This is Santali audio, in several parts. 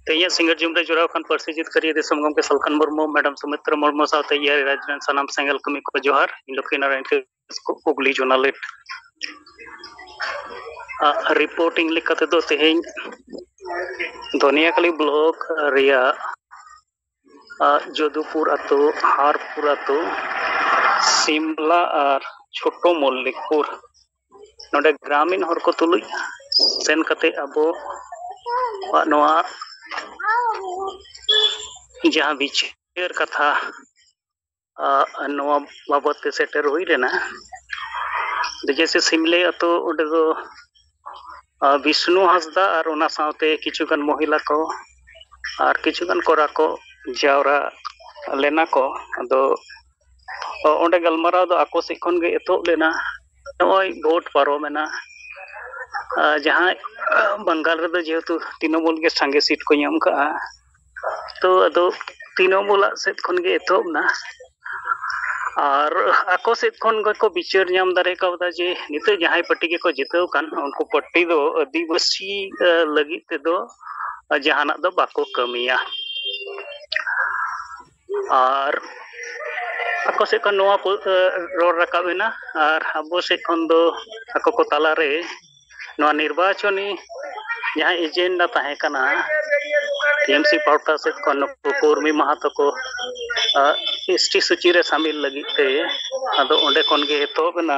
ᱛᱮᱦᱮᱧᱟᱜ ᱥᱤᱸᱜᱟᱹᱲ ᱡᱩᱢ ᱨᱮ ᱡᱚᱲᱟᱣ ᱠᱟᱱ ᱯᱟᱹᱨᱥᱤ ᱡᱤᱛᱠᱟᱹᱨᱤᱭᱟᱹ ᱫᱤᱥᱚᱢ ᱜᱚᱢᱠᱮ ᱥᱟᱞᱠᱷᱟᱱ ᱢᱩᱨᱢᱩ ᱢᱮᱰᱟᱢ ᱥᱩᱢᱤᱛᱨᱟ ᱢᱩᱨᱢᱩ ᱥᱟᱶᱛᱮ ᱤᱭᱟᱹ ᱨᱟᱡᱽ ᱨᱮᱱ ᱥᱟᱱᱟᱢ ᱥᱮᱸᱜᱮᱞ ᱠᱟᱹᱢᱤ ᱠᱚ ᱡᱚᱦᱟᱨ ᱤᱧ ᱞᱚᱠᱠᱷᱤ ᱱᱟᱨᱟᱭᱚᱱ ᱠᱤᱥᱠᱩ ᱦᱩᱜᱽᱞᱤ ᱡᱚᱱᱟᱞᱤᱴ ᱨᱤᱯᱳᱨᱴᱤᱝ ᱞᱮᱠᱟᱛᱮᱫᱚ ᱛᱮᱦᱮᱧ ᱫᱷᱚᱱᱤᱭᱟᱠᱟᱞᱤ ᱵᱞᱚᱠ ᱨᱮᱭᱟᱜ ᱡᱚᱫᱩᱯᱩᱨ ᱟᱛᱳ ᱦᱟᱨᱯᱩᱨ ᱟᱛᱳ ᱥᱤᱢᱞᱟ ᱟᱨ ᱪᱷᱳᱴᱳ ᱢᱚᱞᱞᱤᱠᱯᱩᱨ ᱱᱚᱰᱮ ᱜᱨᱟᱢᱤᱱ ᱦᱚᱲ ᱠᱚ ᱛᱩᱞᱩᱡ ᱥᱮᱱ ᱠᱟᱛᱮ ᱟᱵᱚ ᱱᱚᱣᱟ ᱡᱟᱦᱟᱸ ᱵᱤᱪᱟᱹᱨ ᱠᱟᱛᱷᱟ ᱱᱚᱣᱟ ᱵᱟᱵᱚᱫ ᱛᱮ ᱥᱮᱴᱮᱨ ᱦᱩᱭ ᱞᱮᱱᱟ ᱡᱮᱭᱥᱮ ᱥᱤᱢᱞᱮ ᱟᱛᱳ ᱚᱸᱰᱮ ᱫᱚ ᱵᱤᱥᱱᱩ ᱦᱟᱸᱥᱫᱟ ᱟᱨ ᱚᱱᱟ ᱥᱟᱶᱛᱮ ᱠᱤᱪᱷᱩᱜᱟᱱ ᱢᱚᱦᱤᱞᱟ ᱠᱚ ᱟᱨ ᱠᱤᱪᱷᱩᱜᱟᱱ ᱠᱚᱲᱟ ᱠᱚ ᱡᱟᱣᱨᱟ ᱞᱮᱱᱟ ᱠᱚ ᱟᱫᱚ ᱚᱸᱰᱮ ᱜᱟᱞᱢᱟᱨᱟᱣ ᱫᱚ ᱟᱠᱚ ᱥᱮᱫ ᱠᱷᱚᱱ ᱜᱮ ᱮᱛᱚᱦᱚᱵ ᱞᱮᱱᱟ ᱱᱚᱜᱼᱚᱭ ᱵᱷᱳᱴ ᱯᱟᱨᱚᱢᱮᱱᱟ ᱡᱟᱦᱟᱸᱭ ᱵᱟᱝᱜᱟᱞ ᱨᱮᱫᱚ ᱡᱮᱦᱮᱛᱩ ᱛᱨᱤᱱᱚᱢᱩᱞ ᱜᱮ ᱥᱟᱸᱜᱮ ᱥᱤᱴ ᱠᱚ ᱧᱟᱢ ᱠᱟᱜᱼᱟ ᱛᱚ ᱟᱫᱚ ᱛᱤᱱᱚᱢᱩᱞᱟᱜ ᱥᱮᱫ ᱠᱷᱚᱱ ᱜᱮ ᱮᱛᱚᱦᱚᱵ ᱮᱱᱟ ᱟᱨ ᱟᱠᱚ ᱥᱮᱫ ᱠᱷᱚᱱ ᱜᱮᱠᱚ ᱵᱤᱪᱟᱹᱨ ᱧᱟᱢ ᱫᱟᱲᱮ ᱠᱟᱣᱫᱟ ᱡᱮ ᱱᱤᱛᱚᱜ ᱡᱟᱦᱟᱸᱭ ᱯᱟᱴᱤ ᱜᱮᱠᱚ ᱡᱤᱛᱟᱹᱣ ᱠᱟᱱ ᱩᱱᱠᱩ ᱯᱟᱴᱤ ᱫᱚ ᱟᱹᱫᱤᱵᱟᱹᱥᱤ ᱞᱟᱹᱜᱤᱫ ᱛᱮᱫᱚ ᱡᱟᱦᱟᱱᱟᱜ ᱫᱚ ᱵᱟᱠᱚ ᱠᱟᱹᱢᱤᱭᱟ ᱟᱨ ᱟᱠᱚ ᱥᱮᱫ ᱠᱷᱚᱱ ᱱᱚᱣᱟ ᱠᱚ ᱨᱚᱲ ᱨᱟᱠᱟᱵ ᱮᱱᱟ ᱟᱨ ᱟᱵᱚ ᱥᱮᱫ ᱠᱷᱚᱱ ᱫᱚ ᱟᱠᱚ ᱠᱚ ᱛᱟᱞᱟᱨᱮ ᱱᱚᱣᱟ ᱱᱤᱨᱵᱟᱪᱚᱱᱤ ᱡᱟᱦᱟᱸ ᱮᱡᱮᱱᱰᱟ ᱛᱟᱦᱮᱸ ᱠᱟᱱᱟ ᱴᱤএᱢᱥᱤ ᱯᱟᱦᱴᱟ ᱥᱮᱫ ᱠᱷᱚᱱ ᱱᱩᱠᱩ ᱠᱩᱨᱢᱤ ᱢᱟᱦᱟᱛᱚ ᱠᱚ ᱮᱥᱴᱤ ᱥᱩᱪᱤ ᱨᱮ ᱥᱟᱹᱢᱤᱞ ᱞᱟᱹᱜᱤᱫ ᱛᱮ ᱟᱫᱚ ᱚᱸᱰᱮ ᱠᱷᱚᱱ ᱜᱮ ᱮᱛᱚᱦᱚᱵ ᱮᱱᱟ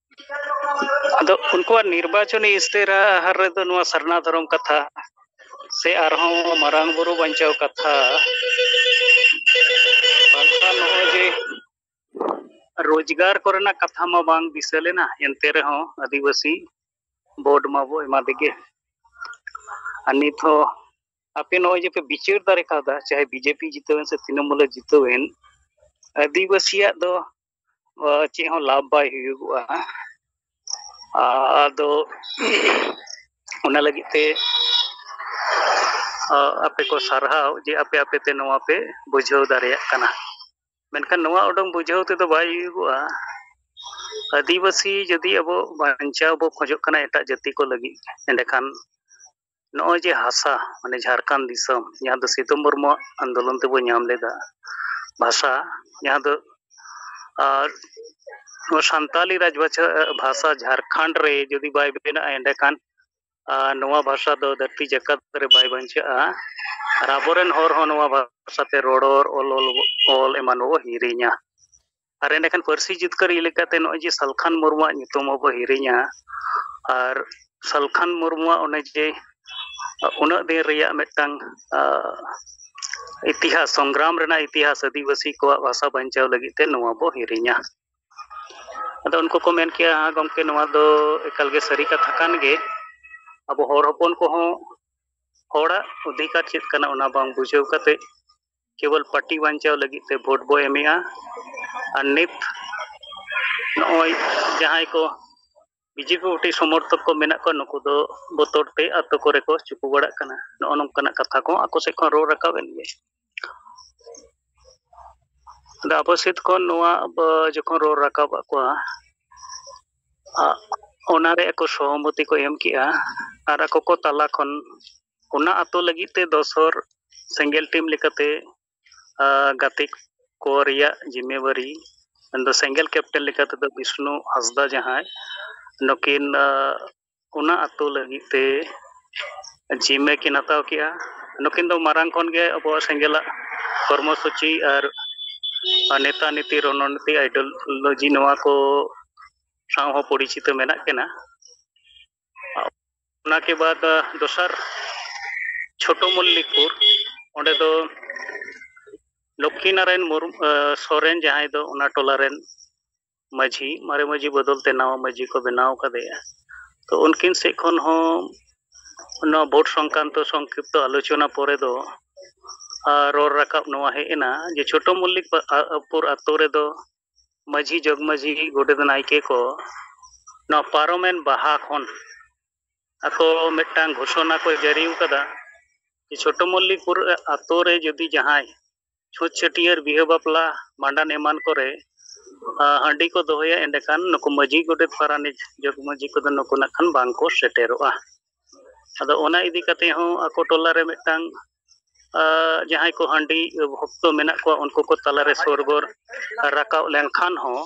ᱟᱫᱚ ᱩᱱᱠᱩᱣᱟᱜ ᱱᱤᱨᱵᱟᱪᱚᱱᱤ ᱤᱥᱛᱤᱨᱟᱦᱟᱨ ᱨᱮᱫᱚ ᱱᱚᱣᱟ ᱥᱟᱨᱱᱟ ᱫᱷᱚᱨᱚᱢ ᱠᱟᱛᱷᱟ ᱥᱮ ᱟᱨᱦᱚᱸ ᱢᱟᱨᱟᱝ ᱵᱩᱨᱩ ᱵᱟᱧᱪᱟᱣ ᱠᱟᱛᱷᱟ ᱵᱟᱝᱠᱷᱟᱱ ᱱᱚᱜᱼᱚᱭ ᱡᱮ ᱨᱳᱡᱽᱜᱟᱨ ᱠᱚᱨᱮᱱᱟᱜ ᱠᱟᱛᱷᱟ ᱢᱟ ᱵᱟᱝ ᱫᱤᱥᱟᱹ ᱞᱮᱱᱟ ᱮᱱᱛᱮ ᱨᱮᱦᱚᱸ ᱟᱹᱫᱤᱵᱟᱹᱥᱤ ᱵᱳᱨᱰ ᱢᱟᱵᱚ ᱮᱢᱟ ᱫᱮᱜᱮ ᱟᱨ ᱱᱤᱛ ᱦᱚᱸ ᱟᱯᱮ ᱱᱚᱜᱼᱚᱭ ᱡᱮ ᱯᱮ ᱵᱤᱪᱟᱹᱨ ᱫᱟᱲᱮ ᱠᱟᱣᱫᱟ ᱪᱟᱦᱮ ᱵᱤᱡᱮᱯᱤ ᱡᱤᱛᱟᱹᱣᱮᱱ ᱥᱮ ᱛᱨᱤᱱᱚᱢᱩᱞᱮ ᱡᱤᱛᱟᱹᱣᱮᱱ ᱟᱹᱫᱤᱵᱟᱹᱥᱤᱭᱟᱜ ᱫᱚ ᱪᱮᱫ ᱦᱚᱸ ᱞᱟᱵᱷ ᱵᱟᱭ ᱦᱩᱭᱩᱜᱚᱜᱼᱟ ᱟᱫᱚ ᱚᱱᱟ ᱞᱟᱹᱜᱤᱫ ᱛᱮ ᱟᱯᱮ ᱠᱚ ᱥᱟᱨᱦᱟᱣ ᱡᱮ ᱟᱯᱮ ᱟᱯᱮ ᱛᱮ ᱱᱚᱣᱟ ᱯᱮ ᱵᱩᱡᱷᱟᱹᱣ ᱫᱟᱲᱮᱭᱟᱜ ᱠᱟᱱᱟ ᱢᱮᱱᱠᱷᱟᱱ ᱱᱚᱣᱟ ᱩᱰᱩᱝ ᱵᱩᱡᱷᱟᱹᱣ ᱛᱮᱫᱚ ᱵᱟᱭ ᱦᱩᱭᱩᱜᱚᱜᱼᱟ ᱟᱹᱫᱤᱵᱟᱹᱥᱤ ᱡᱩᱫᱤ ᱟᱵᱚ ᱵᱟᱧᱪᱟᱣ ᱵᱚ ᱠᱷᱚᱡᱚᱜ ᱠᱟᱱᱟ ᱮᱴᱟᱜ ᱡᱟᱹᱛᱤ ᱠᱚ ᱞᱟᱹᱜᱤᱫ ᱮᱸᱰᱮᱠᱷᱟᱱ ᱱᱚᱜᱼᱚᱭ ᱡᱮ ᱦᱟᱥᱟ ᱢᱟᱱᱮ ᱡᱷᱟᱲᱠᱷᱚᱸᱰ ᱫᱤᱥᱚᱢ ᱡᱟᱦᱟᱸ ᱫᱚ ᱥᱤᱛᱩ ᱢᱩᱨᱢᱩᱣᱟᱜ ᱟᱱᱫᱳᱞᱚᱱ ᱛᱮᱵᱚᱱ ᱧᱟᱢ ᱞᱮᱫᱟ ᱵᱷᱟᱥᱟ ᱡᱟᱦᱟᱸ ᱫᱚ ᱟᱨ ᱱᱚᱣᱟ ᱥᱟᱱᱛᱟᱞᱤ ᱨᱟᱡᱽ ᱵᱷᱟᱥᱟ ᱡᱷᱟᱲᱠᱷᱚᱸᱰ ᱨᱮ ᱡᱩᱫᱤ ᱵᱟᱭ ᱵᱮᱱᱟᱜᱼᱟ ᱮᱸᱰᱮᱠᱷᱟᱱ ᱱᱚᱣᱟ ᱵᱷᱟᱥᱟ ᱫᱚ ᱫᱷᱟᱹᱨᱛᱤ ᱡᱟᱠᱟᱛ ᱨᱮ ᱵᱟᱭ ᱵᱟᱧᱪᱟᱜᱼᱟ ᱟᱨ ᱟᱵᱚᱨᱮᱱ ᱦᱚᱲ ᱦᱚᱸ ᱱᱚᱣᱟ ᱵᱷᱟᱥᱟᱛᱮ ᱨᱚᱨᱚᱲ ᱚᱞ ᱚᱞ ᱚᱞ ᱮᱢᱟᱱ ᱵᱚᱱ ᱦᱤᱲᱤᱧᱟ ᱟᱨ ᱮᱸᱰᱮᱠᱷᱟᱱ ᱯᱟᱹᱨᱥᱤ ᱡᱤᱛᱠᱟᱹᱨ ᱞᱮᱠᱟᱛᱮ ᱱᱚᱜᱼᱚᱭ ᱡᱮ ᱥᱟᱞᱠᱷᱟᱱ ᱢᱩᱨᱢᱩᱣᱟᱜ ᱧᱩᱛᱩᱢ ᱟᱵᱚ ᱦᱤᱨᱤᱧᱟ ᱟᱨ ᱥᱟᱞᱠᱷᱟᱱ ᱢᱩᱨᱢᱩᱣᱟᱜ ᱚᱱᱮ ᱡᱮ ᱩᱱᱟᱹᱜ ᱫᱤᱱ ᱨᱮᱭᱟᱜ ᱢᱤᱫᱴᱟᱝ ᱤᱛᱤᱦᱟᱥ ᱥᱚᱝᱜᱨᱟᱢ ᱨᱮᱱᱟᱜ ᱤᱛᱤᱦᱟᱥ ᱟᱹᱫᱤᱵᱟᱹᱥᱤ ᱠᱚᱣᱟᱜ ᱵᱷᱟᱥᱟ ᱵᱟᱧᱪᱟᱣ ᱞᱟᱹᱜᱤᱫ ᱛᱮ ᱱᱚᱣᱟ ᱵᱚ ᱦᱤᱨᱤᱧᱟ ᱟᱫᱚ ᱩᱱᱠᱩ ᱠᱚ ᱢᱮᱱ ᱠᱮᱭᱟ ᱦᱟᱸ ᱜᱚᱢᱠᱮ ᱱᱚᱣᱟ ᱫᱚ ᱮᱠᱟᱞ ᱜᱮ ᱥᱟᱹᱨᱤ ᱠᱟᱛᱷᱟ ᱠᱟᱱ ᱜᱮ ᱟᱵᱚ ᱦᱚᱲ ᱦᱚᱯᱚᱱ ᱠᱚᱦᱚᱸ ᱦᱚᱲᱟᱜ ᱚᱫᱷᱤᱠᱟᱨ ᱪᱮᱫ ᱠᱟᱱᱟ ᱚᱱᱟ ᱵᱟᱝ ᱵᱩᱡᱷᱟᱹᱣ ᱠᱟᱛᱮ ᱠᱮᱵᱚᱞ ᱯᱟᱨᱴᱤ ᱵᱟᱧᱪᱟᱣ ᱞᱟᱹᱜᱤᱫ ᱛᱮ ᱵᱷᱳᱴ ᱵᱚ ᱮᱢᱮᱜᱼᱟ ᱟᱨ ᱱᱤᱛ ᱱᱚᱜᱼᱚᱭ ᱡᱟᱦᱟᱸᱭ ᱠᱚ ᱵᱤᱡᱮᱯᱤ ᱯᱟᱨᱴᱤ ᱥᱚᱢᱚᱨᱛᱷᱚᱠ ᱠᱚ ᱢᱮᱱᱟᱜ ᱠᱚᱣᱟ ᱱᱩᱠᱩ ᱫᱚ ᱵᱚᱛᱚᱨ ᱛᱮ ᱟᱛᱳ ᱠᱚᱨᱮ ᱠᱚ ᱪᱩᱠᱩ ᱵᱟᱲᱟᱜ ᱠᱟᱱᱟ ᱱᱚᱜᱼᱚ ᱱᱚᱝᱠᱟᱱᱟᱜ ᱠᱟᱛᱷᱟ ᱠᱚ ᱟᱠᱚ ᱥᱮᱫ ᱠᱷᱚᱱ ᱨᱚᱲ ᱨᱟᱠᱟᱵ ᱮᱱ ᱜᱮ ᱟᱫᱚ ᱟᱵᱚ ᱥᱮᱫ ᱠᱷᱚᱱ ᱱᱚᱣᱟ ᱡᱚᱠᱷᱚᱱ ᱨᱚᱲ ᱨᱟᱠᱟᱵ ᱟᱫ ᱠᱚᱣᱟ ᱚᱱᱟᱨᱮ ᱟᱠᱚ ᱥᱚᱦᱚᱢᱚᱛᱤ ᱠᱚ ᱮᱢ ᱠᱮᱜᱼᱟ ᱟᱨ ᱟᱠᱚ ᱠᱚ ᱛᱟᱞᱟ ᱠᱷᱚᱱ ᱚᱱᱟ ᱟᱛᱳ ᱞᱟᱹᱜᱤᱫ ᱛᱮ ᱫᱚᱥ ᱦᱚᱲ ᱥᱮᱸᱜᱮᱞ ᱴᱤᱢ ᱞᱮᱠᱟᱛᱮ ᱜᱟᱛᱮ ᱠᱚ ᱨᱮᱭᱟᱜ ᱡᱤᱢᱟᱹᱣᱟᱨᱤ ᱢᱮᱱᱫᱚ ᱥᱮᱸᱜᱮᱞ ᱠᱮᱯᱴᱮᱱ ᱞᱮᱠᱟ ᱛᱮᱫᱚ ᱵᱤᱥᱱᱩ ᱦᱟᱸᱥᱫᱟ ᱡᱟᱦᱟᱸᱭ ᱱᱩᱠᱤᱱ ᱚᱱᱟ ᱟᱛᱳ ᱞᱟᱹᱜᱤᱫ ᱛᱮ ᱡᱤᱢᱟᱹ ᱠᱤᱱ ᱦᱟᱛᱟᱣ ᱠᱮᱜᱼᱟ ᱱᱩᱠᱤᱱ ᱫᱚ ᱢᱟᱨᱟᱝ ᱠᱷᱚᱱ ᱜᱮ ᱟᱵᱚᱣᱟᱜ ᱥᱮᱸᱜᱮᱞᱟᱜ ᱠᱚᱨᱢᱚ ᱥᱩᱪᱤ ᱟᱨ ᱱᱮᱛᱟ ᱱᱤᱛᱤ ᱨᱚᱱᱚᱱᱤᱛᱤ ᱟᱭᱰᱳᱞᱳᱡᱤ ᱱᱚᱣᱟ ᱠᱚ ᱥᱟᱶ ᱦᱚᱸ ᱯᱚᱨᱤᱪᱤᱛᱚ ᱢᱮᱱᱟᱜ ᱠᱤᱱᱟ ᱚᱱᱟ ᱠᱮ ᱵᱟᱫ ᱫᱚᱥᱟᱨ ᱪᱷᱳᱴᱳ ᱢᱚᱞᱞᱤᱠᱯᱩᱨ ᱚᱸᱰᱮ ᱫᱚ ᱞᱚᱠᱠᱷᱤ ᱱᱟᱨᱟᱭᱚᱱ ᱢᱩᱨᱢᱩ ᱥᱚᱨᱮᱱ ᱡᱟᱦᱟᱸᱭ ᱫᱚ ᱚᱱᱟ ᱴᱚᱞᱟ ᱨᱮᱱ ᱢᱟᱹᱡᱷᱤ ᱢᱟᱨᱮ ᱢᱟᱹᱡᱷᱤ ᱵᱚᱫᱚᱞ ᱛᱮ ᱱᱟᱣᱟ ᱢᱟᱹᱡᱷᱤ ᱠᱚ ᱵᱮᱱᱟᱣ ᱠᱟᱫᱮᱭᱟ ᱛᱚ ᱩᱱᱠᱤᱱ ᱥᱮᱫ ᱠᱷᱚᱱ ᱦᱚᱸ ᱱᱚᱣᱟ ᱵᱷᱳᱴ ᱥᱚᱝᱠᱟᱱᱛᱚ ᱥᱚᱝᱠᱷᱤᱯᱛᱚ ᱟᱞᱳᱪᱚᱱᱟ ᱯᱚᱨᱮ ᱫᱚ ᱨᱚᱲ ᱨᱟᱠᱟᱵ ᱱᱚᱣᱟ ᱦᱮᱡ ᱮᱱᱟ ᱡᱮ ᱪᱷᱳᱴᱳ ᱢᱚᱞᱞᱤᱠ ᱯᱩᱨ ᱟᱛᱳ ᱨᱮᱫᱚ ᱢᱟᱹᱡᱷᱤ ᱡᱚᱜᱽ ᱢᱟᱹᱡᱷᱤ ᱜᱚᱰᱮᱛ ᱱᱟᱭᱠᱮ ᱠᱚ ᱱᱚᱣᱟ ᱯᱟᱨᱚᱢᱮᱱ ᱵᱟᱦᱟ ᱠᱷᱚᱱ ᱟᱠᱚ ᱢᱤᱫᱴᱟᱝ ᱜᱷᱳᱥᱚᱱᱟ ᱠᱚ ᱡᱟᱹᱨᱤ ᱟᱠᱟᱫᱟ ᱡᱮ ᱪᱷᱳᱴᱳ ᱢᱚᱞᱞᱤᱠᱯᱩᱨ ᱟᱛᱳ ᱨᱮ ᱡᱩᱫᱤ ᱡᱟᱦᱟᱸᱭ ᱪᱷᱩᱸᱛ ᱪᱷᱟᱹᱴᱭᱟᱹᱨ ᱵᱤᱦᱟᱹ ᱵᱟᱯᱞᱟ ᱵᱷᱟᱸᱰᱟᱱ ᱮᱢᱟᱱ ᱠᱚᱨᱮ ᱟᱸ, ᱦᱟᱺᱰᱤ ᱠᱚ ᱫᱚᱦᱚᱭᱟ ᱮᱸᱰᱮᱠᱷᱟᱱ ᱱᱩᱠᱩ ᱢᱟᱹᱡᱷᱤ ᱜᱚᱰᱮᱛ ᱯᱟᱨᱟᱱᱤᱠ ᱡᱚᱜᱽ ᱢᱟᱹᱡᱷᱤ ᱠᱚᱫᱚ ᱱᱩᱠᱩ ᱱᱟᱜ ᱠᱷᱟᱱ ᱵᱟᱝᱠᱚ ᱥᱮᱴᱮᱨᱚᱜᱼᱟ ᱟᱫᱚ ᱚᱱᱟ ᱤᱫᱤ ᱠᱟᱛᱮ ᱦᱚᱸ ᱟᱠᱚ ᱴᱚᱞᱟ ᱨᱮ ᱢᱤᱫᱴᱟᱝ ᱡᱟᱦᱟᱸᱭ ᱠᱚ ᱦᱟᱺᱰᱤ ᱵᱷᱚᱠᱛᱚ ᱢᱮᱱᱟᱜ ᱠᱚᱣᱟ ᱩᱱᱠᱩ ᱠᱚ ᱛᱟᱞᱟᱨᱮ ᱥᱚᱨᱜᱚᱨ ᱨᱟᱠᱟᱵ ᱞᱮᱱᱠᱷᱟᱱ ᱦᱚᱸ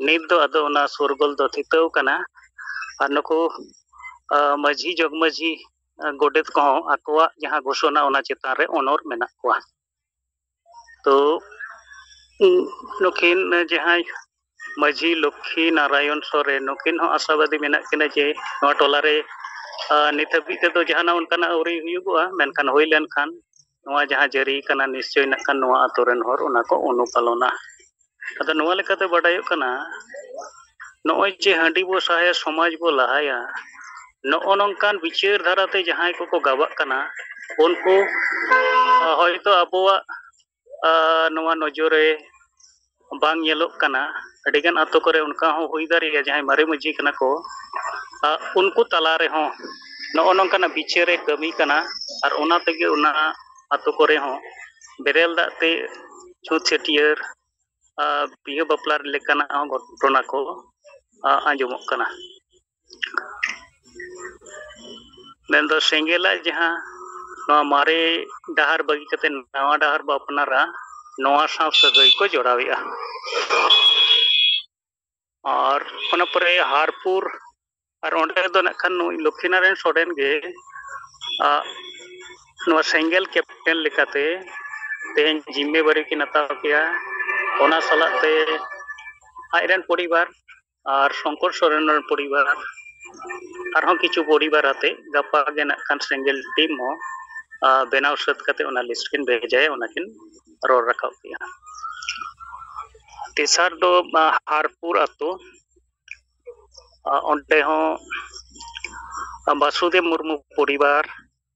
ᱱᱤᱛ ᱫᱚ ᱟᱫᱚ ᱚᱱᱟ ᱥᱚᱨᱜᱚᱞ ᱫᱚ ᱛᱷᱤᱛᱟᱹᱣ ᱠᱟᱱᱟ ᱟᱨ ᱱᱩᱠᱩ ᱢᱟᱹᱡᱷᱤ ᱡᱚᱜᱽ ᱢᱟᱹᱡᱷᱤ ᱜᱚᱰᱮᱛ ᱠᱚᱦᱚᱸ ᱟᱠᱚᱣᱟᱜ ᱡᱟᱦᱟᱸ ᱜᱷᱳᱥᱚᱱᱟ ᱚᱱᱟ ᱪᱮᱛᱟᱱ ᱨᱮ ᱚᱱᱚᱨ ᱢᱮᱱᱟᱜ ᱠᱚᱣᱟ ᱛᱚ ᱱᱩᱠᱤᱱ ᱡᱟᱦᱟᱸᱭ ᱢᱟᱹᱡᱷᱤ ᱞᱚᱠᱠᱷᱤ ᱱᱟᱨᱟᱭᱚᱱ ᱥᱚᱨᱮᱱ ᱱᱩᱠᱤᱱ ᱦᱚᱸ ᱟᱥᱟᱵᱟᱫᱤ ᱢᱮᱱᱟᱜ ᱠᱤᱱᱟ ᱡᱮ ᱱᱚᱣᱟ ᱴᱚᱞᱟ ᱨᱮ ᱱᱤᱛ ᱦᱟᱹᱵᱤᱡ ᱛᱮᱫᱚ ᱡᱟᱦᱟᱱᱟᱜ ᱚᱱᱠᱟᱱᱟᱜ ᱟᱹᱣᱨᱤ ᱦᱩᱭᱩᱜᱚᱜᱼᱟ ᱢᱮᱱᱠᱷᱟᱱ ᱦᱩᱭ ᱞᱮᱱᱠᱷᱟᱱ ᱱᱚᱣᱟ ᱡᱟᱦᱟᱸ ᱡᱟᱹᱨᱤ ᱠᱟᱱᱟ ᱱᱤᱥᱪᱚᱭ ᱱᱟᱜ ᱠᱷᱟᱱ ᱱᱚᱣᱟ ᱟᱛᱳ ᱨᱮᱱ ᱦᱚᱲ ᱚᱱᱟ ᱠᱚ ᱚᱱᱩᱯᱟᱞᱚᱱᱟ ᱟᱫᱚ ᱱᱚᱣᱟ ᱞᱮᱠᱟᱛᱮ ᱵᱟᱰᱟᱭᱚᱜ ᱠᱟᱱᱟ ᱱᱚᱜᱼᱚᱭ ᱡᱮ ᱦᱟᱺᱰᱤ ᱵᱚ ᱥᱟᱦᱟᱭᱟ ᱥᱚᱢᱟᱡᱽ ᱵᱚ ᱞᱟᱦᱟᱭᱟ ᱱᱚᱜᱼᱚ ᱱᱚᱝᱠᱟᱱ ᱵᱤᱪᱟᱹᱨ ᱫᱷᱟᱨᱟᱛᱮ ᱡᱟᱦᱟᱸᱭ ᱠᱚᱠᱚ ᱜᱟᱵᱟᱜ ᱠᱟᱱᱟ ᱩᱱᱠᱩ ᱦᱚᱭᱛᱳ ᱟᱵᱚᱣᱟᱜ ᱱᱚᱣᱟ ᱱᱚᱡᱚᱨ ᱨᱮ ᱵᱟᱝ ᱧᱮᱞᱚᱜ ᱠᱟᱱᱟ ᱟᱹᱰᱤᱜᱟᱱ ᱟᱛᱳ ᱠᱚᱨᱮ ᱚᱱᱠᱟ ᱦᱚᱸ ᱦᱩᱭ ᱫᱟᱲᱮᱭᱟᱜᱼᱟ ᱡᱟᱦᱟᱸᱭ ᱢᱟᱨᱮ ᱢᱟᱺᱡᱷᱤ ᱠᱟᱱᱟ ᱠᱚ ᱩᱱᱠᱩ ᱛᱟᱞᱟ ᱨᱮᱦᱚᱸ ᱱᱚᱜᱼᱚ ᱱᱚᱝᱠᱟᱱᱟᱜ ᱵᱤᱪᱟᱹᱨᱮ ᱠᱟᱹᱢᱤ ᱠᱟᱱᱟ ᱟᱨ ᱚᱱᱟ ᱛᱮᱜᱮ ᱚᱱᱟ ᱟᱛᱳ ᱠᱚᱨᱮ ᱦᱚᱸ ᱵᱮᱨᱮᱞ ᱫᱟᱜ ᱛᱮ ᱪᱷᱩᱸᱛ ᱪᱷᱟᱹᱴᱭᱟᱹᱨ ᱟᱨ ᱵᱤᱦᱟᱹ ᱵᱟᱯᱞᱟ ᱞᱮᱠᱟᱱᱟᱜ ᱦᱚᱸ ᱜᱷᱚᱴᱚᱱᱟ ᱠᱚ ᱟᱸᱡᱚᱢᱚᱜ ᱠᱟᱱᱟ ᱢᱮᱱᱫᱚ ᱥᱮᱸᱜᱮᱞᱟᱜ ᱡᱟᱦᱟᱸ ᱱᱚᱣᱟ ᱢᱟᱨᱮ ᱰᱟᱦᱟᱨ ᱵᱟᱹᱜᱤ ᱠᱟᱛᱮ ᱱᱟᱣᱟ ᱰᱟᱦᱟᱨ ᱵᱚ ᱟᱯᱱᱟᱨᱟ ᱱᱚᱣᱟ ᱥᱟᱶ ᱥᱟᱹᱜᱟᱹᱭ ᱠᱚ ᱡᱚᱲᱟᱣᱮᱜᱼᱟ ᱟᱨ ᱚᱱᱟ ᱯᱚᱨᱮ ᱦᱟᱨᱯᱩᱨ ᱟᱨ ᱚᱸᱰᱮ ᱫᱚ ᱱᱟᱜ ᱠᱷᱟᱱ ᱱᱩᱭ ᱞᱚᱠᱠᱷᱤᱱᱟᱨᱟᱭᱚᱱ ᱥᱚᱨᱮᱱ ᱜᱮ ᱟᱜ ᱱᱚᱣᱟ ᱥᱮᱸᱜᱮᱞ ᱠᱮᱯᱴᱮᱱ ᱞᱮᱠᱟᱛᱮ ᱛᱮᱦᱮᱧ ᱡᱤᱢᱢᱮᱵᱟᱨᱤ ᱠᱤᱱ ᱦᱟᱛᱟᱣ ᱠᱮᱜᱼᱟ ᱚᱱᱟ ᱥᱟᱞᱟᱜ ᱛᱮ ᱟᱡ ᱨᱮᱱ ᱯᱚᱨᱤᱵᱟᱨ ᱟᱨ ᱥᱚᱝᱠᱚᱨ ᱥᱚᱨᱮᱱ ᱨᱮᱱ ᱯᱚᱨᱤᱵᱟᱨ ᱟᱨᱦᱚᱸ ᱠᱤᱪᱷᱩ ᱯᱚᱨᱤᱵᱟᱨ ᱟᱛᱮ ᱜᱟᱯᱟ ᱜᱮ ᱱᱟᱜ ᱠᱷᱟᱱ ᱥᱮᱸᱜᱮᱞ ᱴᱤᱢ ᱦᱚᱸ ᱵᱮᱱᱟᱣ ᱥᱟᱹᱛ ᱠᱟᱛᱮ ᱚᱱᱟ ᱞᱤᱥᱴ ᱠᱤᱱ ᱵᱷᱮᱡᱟᱭᱟ ᱚᱱᱟ ᱠᱤᱱ ᱨᱚᱲ ᱨᱟᱠᱟᱵ ᱠᱮᱜᱼᱟ ᱛᱮᱥᱟᱨ ᱫᱚ ᱦᱟᱨᱯᱩᱨ ᱟᱛᱳ ᱚᱸᱰᱮ ᱦᱚᱸ ᱵᱟᱥᱩᱫᱮᱵ ᱢᱩᱨᱢᱩ ᱯᱚᱨᱤᱵᱟᱨ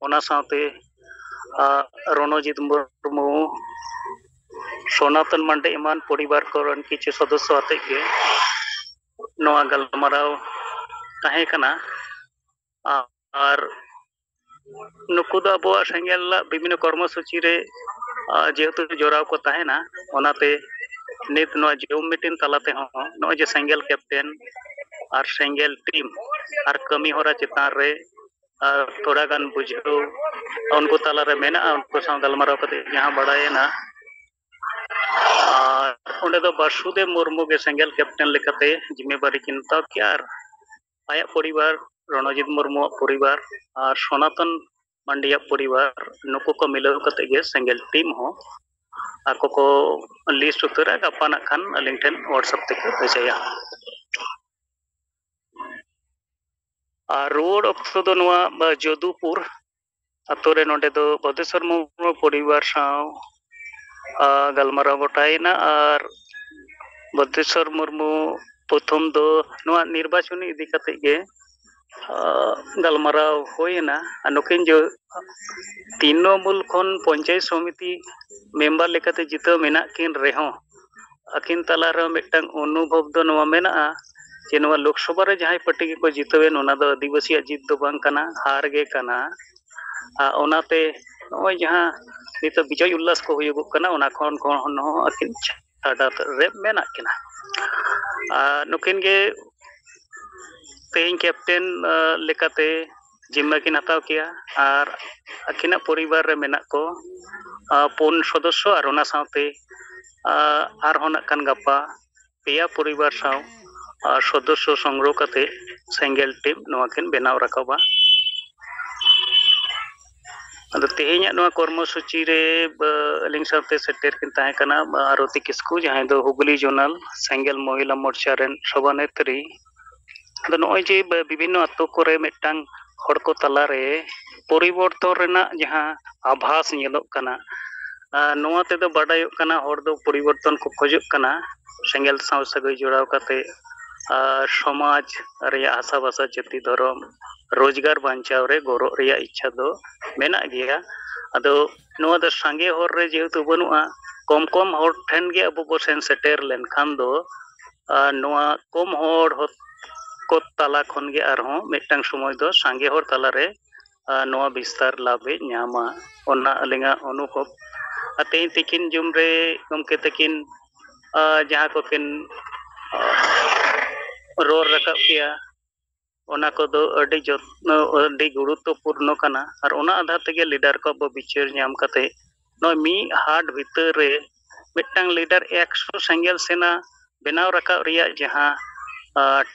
ᱚᱱᱟ ᱥᱟᱶᱛᱮ ᱨᱚᱱᱚᱡᱤᱛ ᱢᱩᱨᱢᱩ ᱥᱚᱱᱟᱛᱚᱱ ᱢᱟᱱᱰᱮ ᱮᱢᱟᱱ ᱯᱚᱨᱤᱵᱟᱨ ᱠᱚᱨᱮᱱ ᱠᱤᱪᱷᱩ ᱥᱚᱫᱚᱥᱥᱚ ᱟᱛᱮᱜ ᱜᱮ ᱱᱚᱣᱟ ᱜᱟᱞᱢᱟᱨᱟᱣ ᱛᱟᱦᱮᱸ ᱠᱟᱱᱟ ᱟᱨ ᱱᱩᱠᱩ ᱫᱚ ᱟᱵᱚᱣᱟᱜ ᱥᱮᱸᱜᱮᱞ ᱵᱤᱵᱷᱤᱱᱱᱚ ᱠᱚᱨᱢᱚ ᱥᱩᱪᱤ ᱨᱮ ᱡᱮᱦᱮᱛᱩ ᱡᱚᱲᱟᱣ ᱠᱚ ᱛᱟᱦᱮᱱᱟ ᱚᱱᱟᱛᱮ ᱱᱤᱛ ᱱᱚᱣᱟ ᱡᱩᱢ ᱢᱤᱴᱤᱝ ᱛᱟᱞᱟ ᱛᱮᱦᱚᱸ ᱱᱚᱜᱼᱚᱭ ᱡᱮ ᱥᱮᱸᱜᱮᱞ ᱠᱮᱯᱴᱮᱱ ᱟᱨ ᱥᱮᱸᱜᱮᱞ ᱴᱤᱢ ᱟᱨ ᱠᱟᱹᱢᱤ ᱦᱚᱨᱟ ᱪᱮᱛᱟᱱ ᱨᱮ ᱛᱷᱚᱲᱟ ᱜᱟᱱ ᱵᱩᱡᱷᱟᱹᱣ ᱩᱱᱠᱩ ᱛᱟᱞᱟᱨᱮ ᱢᱮᱱᱟᱜᱼᱟ ᱩᱱᱠᱩ ᱥᱟᱶ ᱜᱟᱞᱢᱟᱨᱟᱣ ᱠᱟᱛᱮ ᱡᱟᱦᱟᱸ ᱵᱟᱲᱟᱭᱮᱱᱟ ᱚᱸᱰᱮ ᱫᱚ ᱵᱟᱥᱩᱫᱮᱵ ᱢᱩᱨᱢᱩ ᱜᱮ ᱥᱮᱸᱜᱮᱞ ᱠᱮᱯᱴᱮᱱ ᱞᱮᱠᱟᱛᱮ ᱡᱤᱢᱮᱵᱟᱨᱤ ᱠᱤᱱ ᱦᱟᱛᱟᱣ ᱠᱮᱜᱼᱟ ᱟᱨ ᱟᱭᱟᱜ ᱯᱚᱨᱤᱵᱟᱨ ᱨᱚᱱᱚᱡᱤᱛ ᱢᱩᱨᱢᱩᱣᱟᱜ ᱯᱚᱨᱤᱵᱟᱨ ᱟᱨ ᱥᱚᱱᱟᱛᱚᱱ ᱢᱟᱱᱰᱤᱭᱟᱜ ᱯᱚᱨᱤᱵᱟᱨ ᱱᱩᱠᱩ ᱠᱚ ᱢᱤᱞᱟᱹᱣ ᱠᱟᱛᱮ ᱜᱮ ᱥᱮᱸᱜᱮᱞ ᱴᱤᱢ ᱦᱚᱸ ᱟᱠᱚ ᱠᱚ ᱞᱤᱥᱴ ᱩᱛᱟᱹᱨᱟ ᱜᱟᱯᱟ ᱱᱟᱜ ᱠᱷᱟᱱ ᱟᱹᱞᱤᱧ ᱴᱷᱮᱱ ᱦᱚᱣᱟᱴᱥᱟᱯ ᱛᱮᱠᱚ ᱵᱷᱮᱡᱟᱭᱟ ᱟᱨ ᱨᱩᱣᱟᱹᱲ ᱚᱠᱛᱚ ᱫᱚ ᱱᱚᱣᱟ ᱡᱚᱫᱩᱯᱩᱨ ᱟᱛᱳ ᱨᱮ ᱱᱚᱰᱮ ᱫᱚ ᱵᱚᱫᱮᱥᱚᱨ ᱢᱩᱨᱢᱩ ᱯᱚᱨᱤᱵᱟᱨ ᱥᱟᱶ ᱜᱟᱞᱢᱟᱨᱟᱣ ᱜᱚᱴᱟᱭᱮᱱᱟ ᱟᱨ ᱵᱚᱫᱮᱥᱚᱨ ᱢᱩᱨᱢᱩ ᱯᱨᱚᱛᱷᱚᱢ ᱫᱚ ᱱᱚᱣᱟ ᱱᱤᱨᱵᱟᱪᱚᱱ ᱤᱫᱤ ᱠᱟᱛᱮᱫ ᱜᱮ ᱜᱟᱞᱢᱟᱨᱟᱣ ᱦᱩᱭᱮᱱᱟ ᱟᱨ ᱱᱩᱠᱤᱱ ᱡᱚ ᱛᱨᱤᱱᱚᱢᱩᱞ ᱠᱷᱚᱱ ᱯᱚᱧᱪᱟᱭᱮᱛ ᱥᱚᱢᱤᱛᱤ ᱢᱮᱢᱵᱟᱨ ᱞᱮᱠᱟᱛᱮ ᱡᱤᱛᱟᱹᱣ ᱢᱮᱱᱟᱜ ᱠᱤᱱ ᱨᱮᱦᱚᱸ ᱟᱹᱠᱤᱱ ᱛᱟᱞᱟ ᱨᱮᱦᱚᱸ ᱢᱤᱫᱴᱟᱝ ᱚᱱᱩᱵᱷᱚᱵ ᱫᱚ ᱱᱚᱣᱟ ᱢᱮᱱᱟᱜᱼᱟ ᱡᱮ ᱱᱚᱣᱟ ᱞᱳᱠᱥᱚᱵᱷᱟ ᱨᱮ ᱡᱟᱦᱟᱸᱭ ᱯᱟᱹᱴᱤ ᱜᱮᱠᱚ ᱡᱤᱛᱟᱹᱣᱮᱱ ᱚᱱᱟ ᱫᱚ ᱟᱹᱫᱤᱵᱟᱹᱥᱤᱭᱟᱜ ᱡᱤᱛ ᱫᱚ ᱵᱟᱝ ᱠᱟᱱᱟ ᱦᱟᱨ ᱜᱮ ᱠᱟᱱᱟ ᱟᱨ ᱚᱱᱟᱛᱮ ᱱᱚᱜᱼᱚᱭ ᱡᱟᱦᱟᱸ ᱱᱤᱛᱚᱜ ᱵᱤᱡᱚᱭ ᱩᱞᱞᱟᱥ ᱠᱚ ᱦᱩᱭᱩᱜᱚᱜ ᱠᱟᱱᱟ ᱚᱱᱟ ᱠᱷᱚᱱ ᱠᱷᱚᱱ ᱦᱚᱸ ᱟᱹᱠᱤᱱ ᱪᱷᱟᱰᱟ ᱨᱮ ᱢᱮᱱᱟᱜ ᱠᱤᱱᱟ ᱟᱨ ᱱᱩᱠᱤᱱ ᱜᱮ ᱛᱮᱦᱮᱧ ᱠᱮᱯᱴᱮᱱ ᱞᱮᱠᱟᱛᱮ ᱡᱤᱢᱢᱟᱹ ᱠᱤᱱ ᱦᱟᱛᱟᱣ ᱠᱮᱭᱟ ᱟᱨ ᱟᱹᱠᱤᱱᱟᱜ ᱯᱚᱨᱤᱵᱟᱨ ᱨᱮ ᱢᱮᱱᱟᱜ ᱠᱚ ᱯᱩᱱ ᱥᱚᱫᱚᱥᱥᱚ ᱟᱨ ᱚᱱᱟ ᱥᱟᱶᱛᱮ ᱟᱨᱦᱚᱸ ᱱᱟᱜ ᱠᱷᱟᱱ ᱜᱟᱯᱟ ᱯᱮᱭᱟ ᱯᱚᱨᱤᱵᱟᱨ ᱥᱟᱶ ᱥᱚᱫᱚᱥᱥᱚ ᱥᱚᱝᱜᱨᱚᱦᱚ ᱠᱟᱛᱮ ᱥᱮᱸᱜᱮᱞ ᱴᱤᱢ ᱱᱚᱣᱟ ᱠᱤᱱ ᱵᱮᱱᱟᱣ ᱨᱟᱠᱟᱵᱟ ᱟᱫᱚ ᱛᱮᱦᱮᱧᱟᱜ ᱱᱚᱣᱟ ᱠᱚᱨᱢᱚ ᱥᱩᱪᱤ ᱨᱮ ᱟᱹᱞᱤᱧ ᱥᱟᱶᱛᱮ ᱥᱮᱴᱮᱨ ᱠᱤᱱ ᱛᱟᱦᱮᱸ ᱠᱟᱱᱟ ᱟᱨᱚᱛᱤ ᱠᱤᱥᱠᱩ ᱡᱟᱦᱟᱸᱭ ᱫᱚ ᱦᱩᱜᱽᱞᱤ ᱡᱳᱱᱟᱞ ᱥᱮᱸᱜᱮᱞ ᱢᱚᱦᱤᱞᱟ ᱢᱳᱨᱪᱟ ᱨᱮᱱ ᱥᱚᱵᱷᱟᱱᱮᱛᱨᱤ ᱟᱫᱚ ᱱᱚᱜᱼᱚᱭ ᱡᱮ ᱵᱤᱵᱷᱤᱱᱱᱚ ᱟᱛᱳ ᱠᱚᱨᱮ ᱢᱤᱫᱴᱟᱝ ᱦᱚᱲ ᱠᱚ ᱛᱟᱞᱟᱨᱮ ᱯᱚᱨᱤᱵᱚᱨᱛᱚᱱ ᱨᱮᱱᱟᱜ ᱡᱟᱦᱟᱸ ᱟᱵᱷᱟᱥ ᱧᱮᱞᱚᱜ ᱠᱟᱱᱟ ᱱᱚᱣᱟ ᱛᱮᱫᱚ ᱵᱟᱰᱟᱭᱚᱜ ᱠᱟᱱᱟ ᱦᱚᱲ ᱫᱚ ᱯᱚᱨᱤᱵᱚᱨᱛᱚᱱ ᱠᱚ ᱠᱷᱚᱡᱚᱜ ᱠᱟᱱᱟ ᱥᱮᱸᱜᱮᱞ ᱥᱟᱶ ᱥᱟᱹᱜᱟᱹᱭ ᱡᱚᱲᱟᱣ ᱠᱟᱛᱮ ᱟᱨ ᱥᱚᱢᱟᱡᱽ ᱨᱮᱭᱟᱜ ᱦᱟᱥᱟ ᱵᱷᱟᱥᱟ ᱡᱟᱹᱛᱤ ᱫᱷᱚᱨᱚᱢ ᱨᱳᱡᱽᱜᱟᱨ ᱵᱟᱧᱪᱟᱣ ᱨᱮ ᱜᱚᱨᱚᱜ ᱨᱮᱭᱟᱜ ᱤᱪᱪᱷᱟ ᱫᱚ ᱢᱮᱱᱟᱜ ᱜᱮᱭᱟ ᱟᱫᱚ ᱱᱚᱣᱟ ᱫᱚ ᱥᱟᱸᱜᱮ ᱦᱚᱨ ᱨᱮ ᱡᱮᱦᱮᱛᱩ ᱵᱟᱹᱱᱩᱜᱼᱟ ᱠᱚᱢ ᱠᱚᱢ ᱦᱚᱲ ᱴᱷᱮᱱ ᱜᱮ ᱟᱵᱚ ᱵᱚ ᱥᱮᱱ ᱥᱮᱴᱮᱨ ᱞᱮᱱᱠᱷᱟᱱ ᱫᱚ ᱟᱨ ᱱᱚᱣᱟ ᱠᱚᱢ ᱦᱚᱲ ᱠᱚ ᱛᱟᱞᱟ ᱠᱷᱚᱱ ᱜᱮ ᱟᱨᱦᱚᱸ ᱢᱤᱫᱴᱟᱝ ᱥᱚᱢᱚᱭ ᱫᱚ ᱥᱟᱸᱜᱮ ᱦᱚᱲ ᱛᱟᱞᱟ ᱨᱮ ᱱᱚᱣᱟ ᱵᱤᱥᱛᱟᱨ ᱞᱟᱵᱷ ᱮ ᱧᱟᱢᱟ ᱚᱱᱟ ᱟᱹᱞᱤᱧᱟᱜ ᱚᱱᱩᱵᱷᱚᱵᱽ ᱟᱨ ᱛᱮᱦᱮᱧ ᱛᱤᱠᱤᱱ ᱡᱚᱢ ᱨᱮ ᱜᱚᱢᱠᱮ ᱛᱟᱹᱠᱤᱱ ᱡᱟᱦᱟᱸ ᱠᱚᱠᱤᱱ ᱨᱚᱲ ᱨᱟᱠᱟᱵ ᱠᱮᱜᱼᱟ ᱚᱱᱟ ᱠᱚᱫᱚ ᱟᱹᱰᱤ ᱡᱚᱛᱱᱚ ᱟᱹᱰᱤ ᱜᱩᱨᱩᱛᱛᱚ ᱯᱩᱨᱱᱚ ᱠᱟᱱᱟ ᱟᱨ ᱚᱱᱟ ᱟᱫᱷᱟᱨ ᱛᱮᱜᱮ ᱞᱤᱰᱟᱨ ᱠᱚ ᱟᱵᱚ ᱵᱤᱪᱟᱹᱨ ᱧᱟᱢ ᱠᱟᱛᱮ ᱱᱚᱜᱼᱚᱭ ᱢᱤᱫ ᱦᱟᱴ ᱵᱷᱤᱛᱟᱹᱨ ᱨᱮ ᱢᱤᱫᱴᱟᱝ ᱞᱤᱰᱟᱨ ᱮᱠᱥᱚ ᱥᱮᱸᱜᱮᱞ ᱥᱮᱱᱟ ᱵᱮᱱᱟᱣ ᱨᱟᱠᱟᱵ ᱨᱮᱭᱟᱜ ᱡᱟᱦᱟᱸ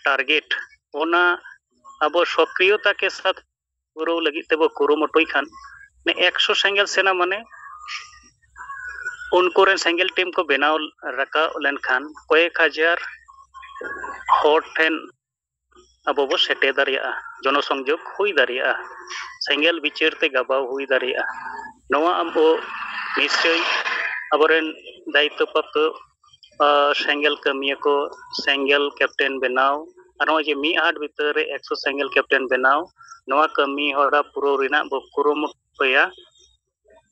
ᱴᱟᱨᱜᱮᱴ ᱚᱱᱟ ᱟᱵᱚ ᱥᱚᱠᱨᱤᱭᱚᱛᱟ ᱠᱮ ᱥᱟᱛ ᱯᱩᱨᱟᱹᱣ ᱞᱟᱹᱜᱤᱫ ᱛᱮᱵᱚ ᱠᱩᱨᱩᱢᱩᱴᱩᱭ ᱠᱷᱟᱱ ᱮᱠᱥᱚ ᱥᱮᱸᱜᱮᱞ ᱥᱮᱱᱟ ᱢᱟᱱᱮ ᱩᱱᱠᱩ ᱨᱮᱱ ᱥᱮᱸᱜᱮᱞ ᱴᱤᱢ ᱠᱚ ᱵᱮᱱᱟᱣ ᱨᱟᱠᱟᱵ ᱞᱮᱱᱠᱷᱟᱱ ᱠᱚᱭᱮᱠ ᱦᱟᱡᱟᱨ ᱦᱚᱲ ᱴᱷᱮᱱ ᱟᱵᱚ ᱵᱚ ᱥᱮᱴᱮᱨ ᱫᱟᱲᱮᱭᱟᱜᱼᱟ ᱡᱚᱱᱚ ᱥᱚᱝᱡᱳᱜᱽ ᱦᱩᱭ ᱫᱟᱲᱮᱭᱟᱜᱼᱟ ᱥᱮᱸᱜᱮᱞ ᱵᱤᱪᱟᱹᱨ ᱛᱮ ᱜᱟᱵᱟᱣ ᱦᱩᱭ ᱫᱟᱲᱮᱭᱟᱜᱼᱟ ᱱᱚᱣᱟ ᱟᱵᱚ ᱱᱤᱥᱪᱳᱭ ᱟᱵᱚᱨᱮᱱ ᱫᱟᱭᱤᱛᱛᱚ ᱯᱨᱟᱯᱛᱚ ᱥᱮᱸᱜᱮᱞ ᱠᱟᱹᱢᱤᱭᱟᱹ ᱠᱚ ᱥᱮᱸᱜᱮᱞ ᱠᱮᱯᱴᱮᱱ ᱵᱮᱱᱟᱣ ᱟᱨ ᱱᱚᱜᱼᱚᱭ ᱡᱮ ᱢᱤᱫ ᱦᱟᱴ ᱵᱷᱤᱛᱟᱹᱨ ᱨᱮ ᱮᱠᱥᱚ ᱥᱮᱸᱜᱮᱞ ᱠᱮᱯᱴᱮᱱ ᱵᱮᱱᱟᱣ ᱱᱚᱣᱟ ᱠᱟᱹᱢᱤ ᱦᱚᱨᱟ ᱯᱩᱨᱟᱹᱣ ᱨᱮᱱᱟᱜ ᱵᱚ ᱠᱩᱨᱩᱢᱩᱴᱩᱭᱟ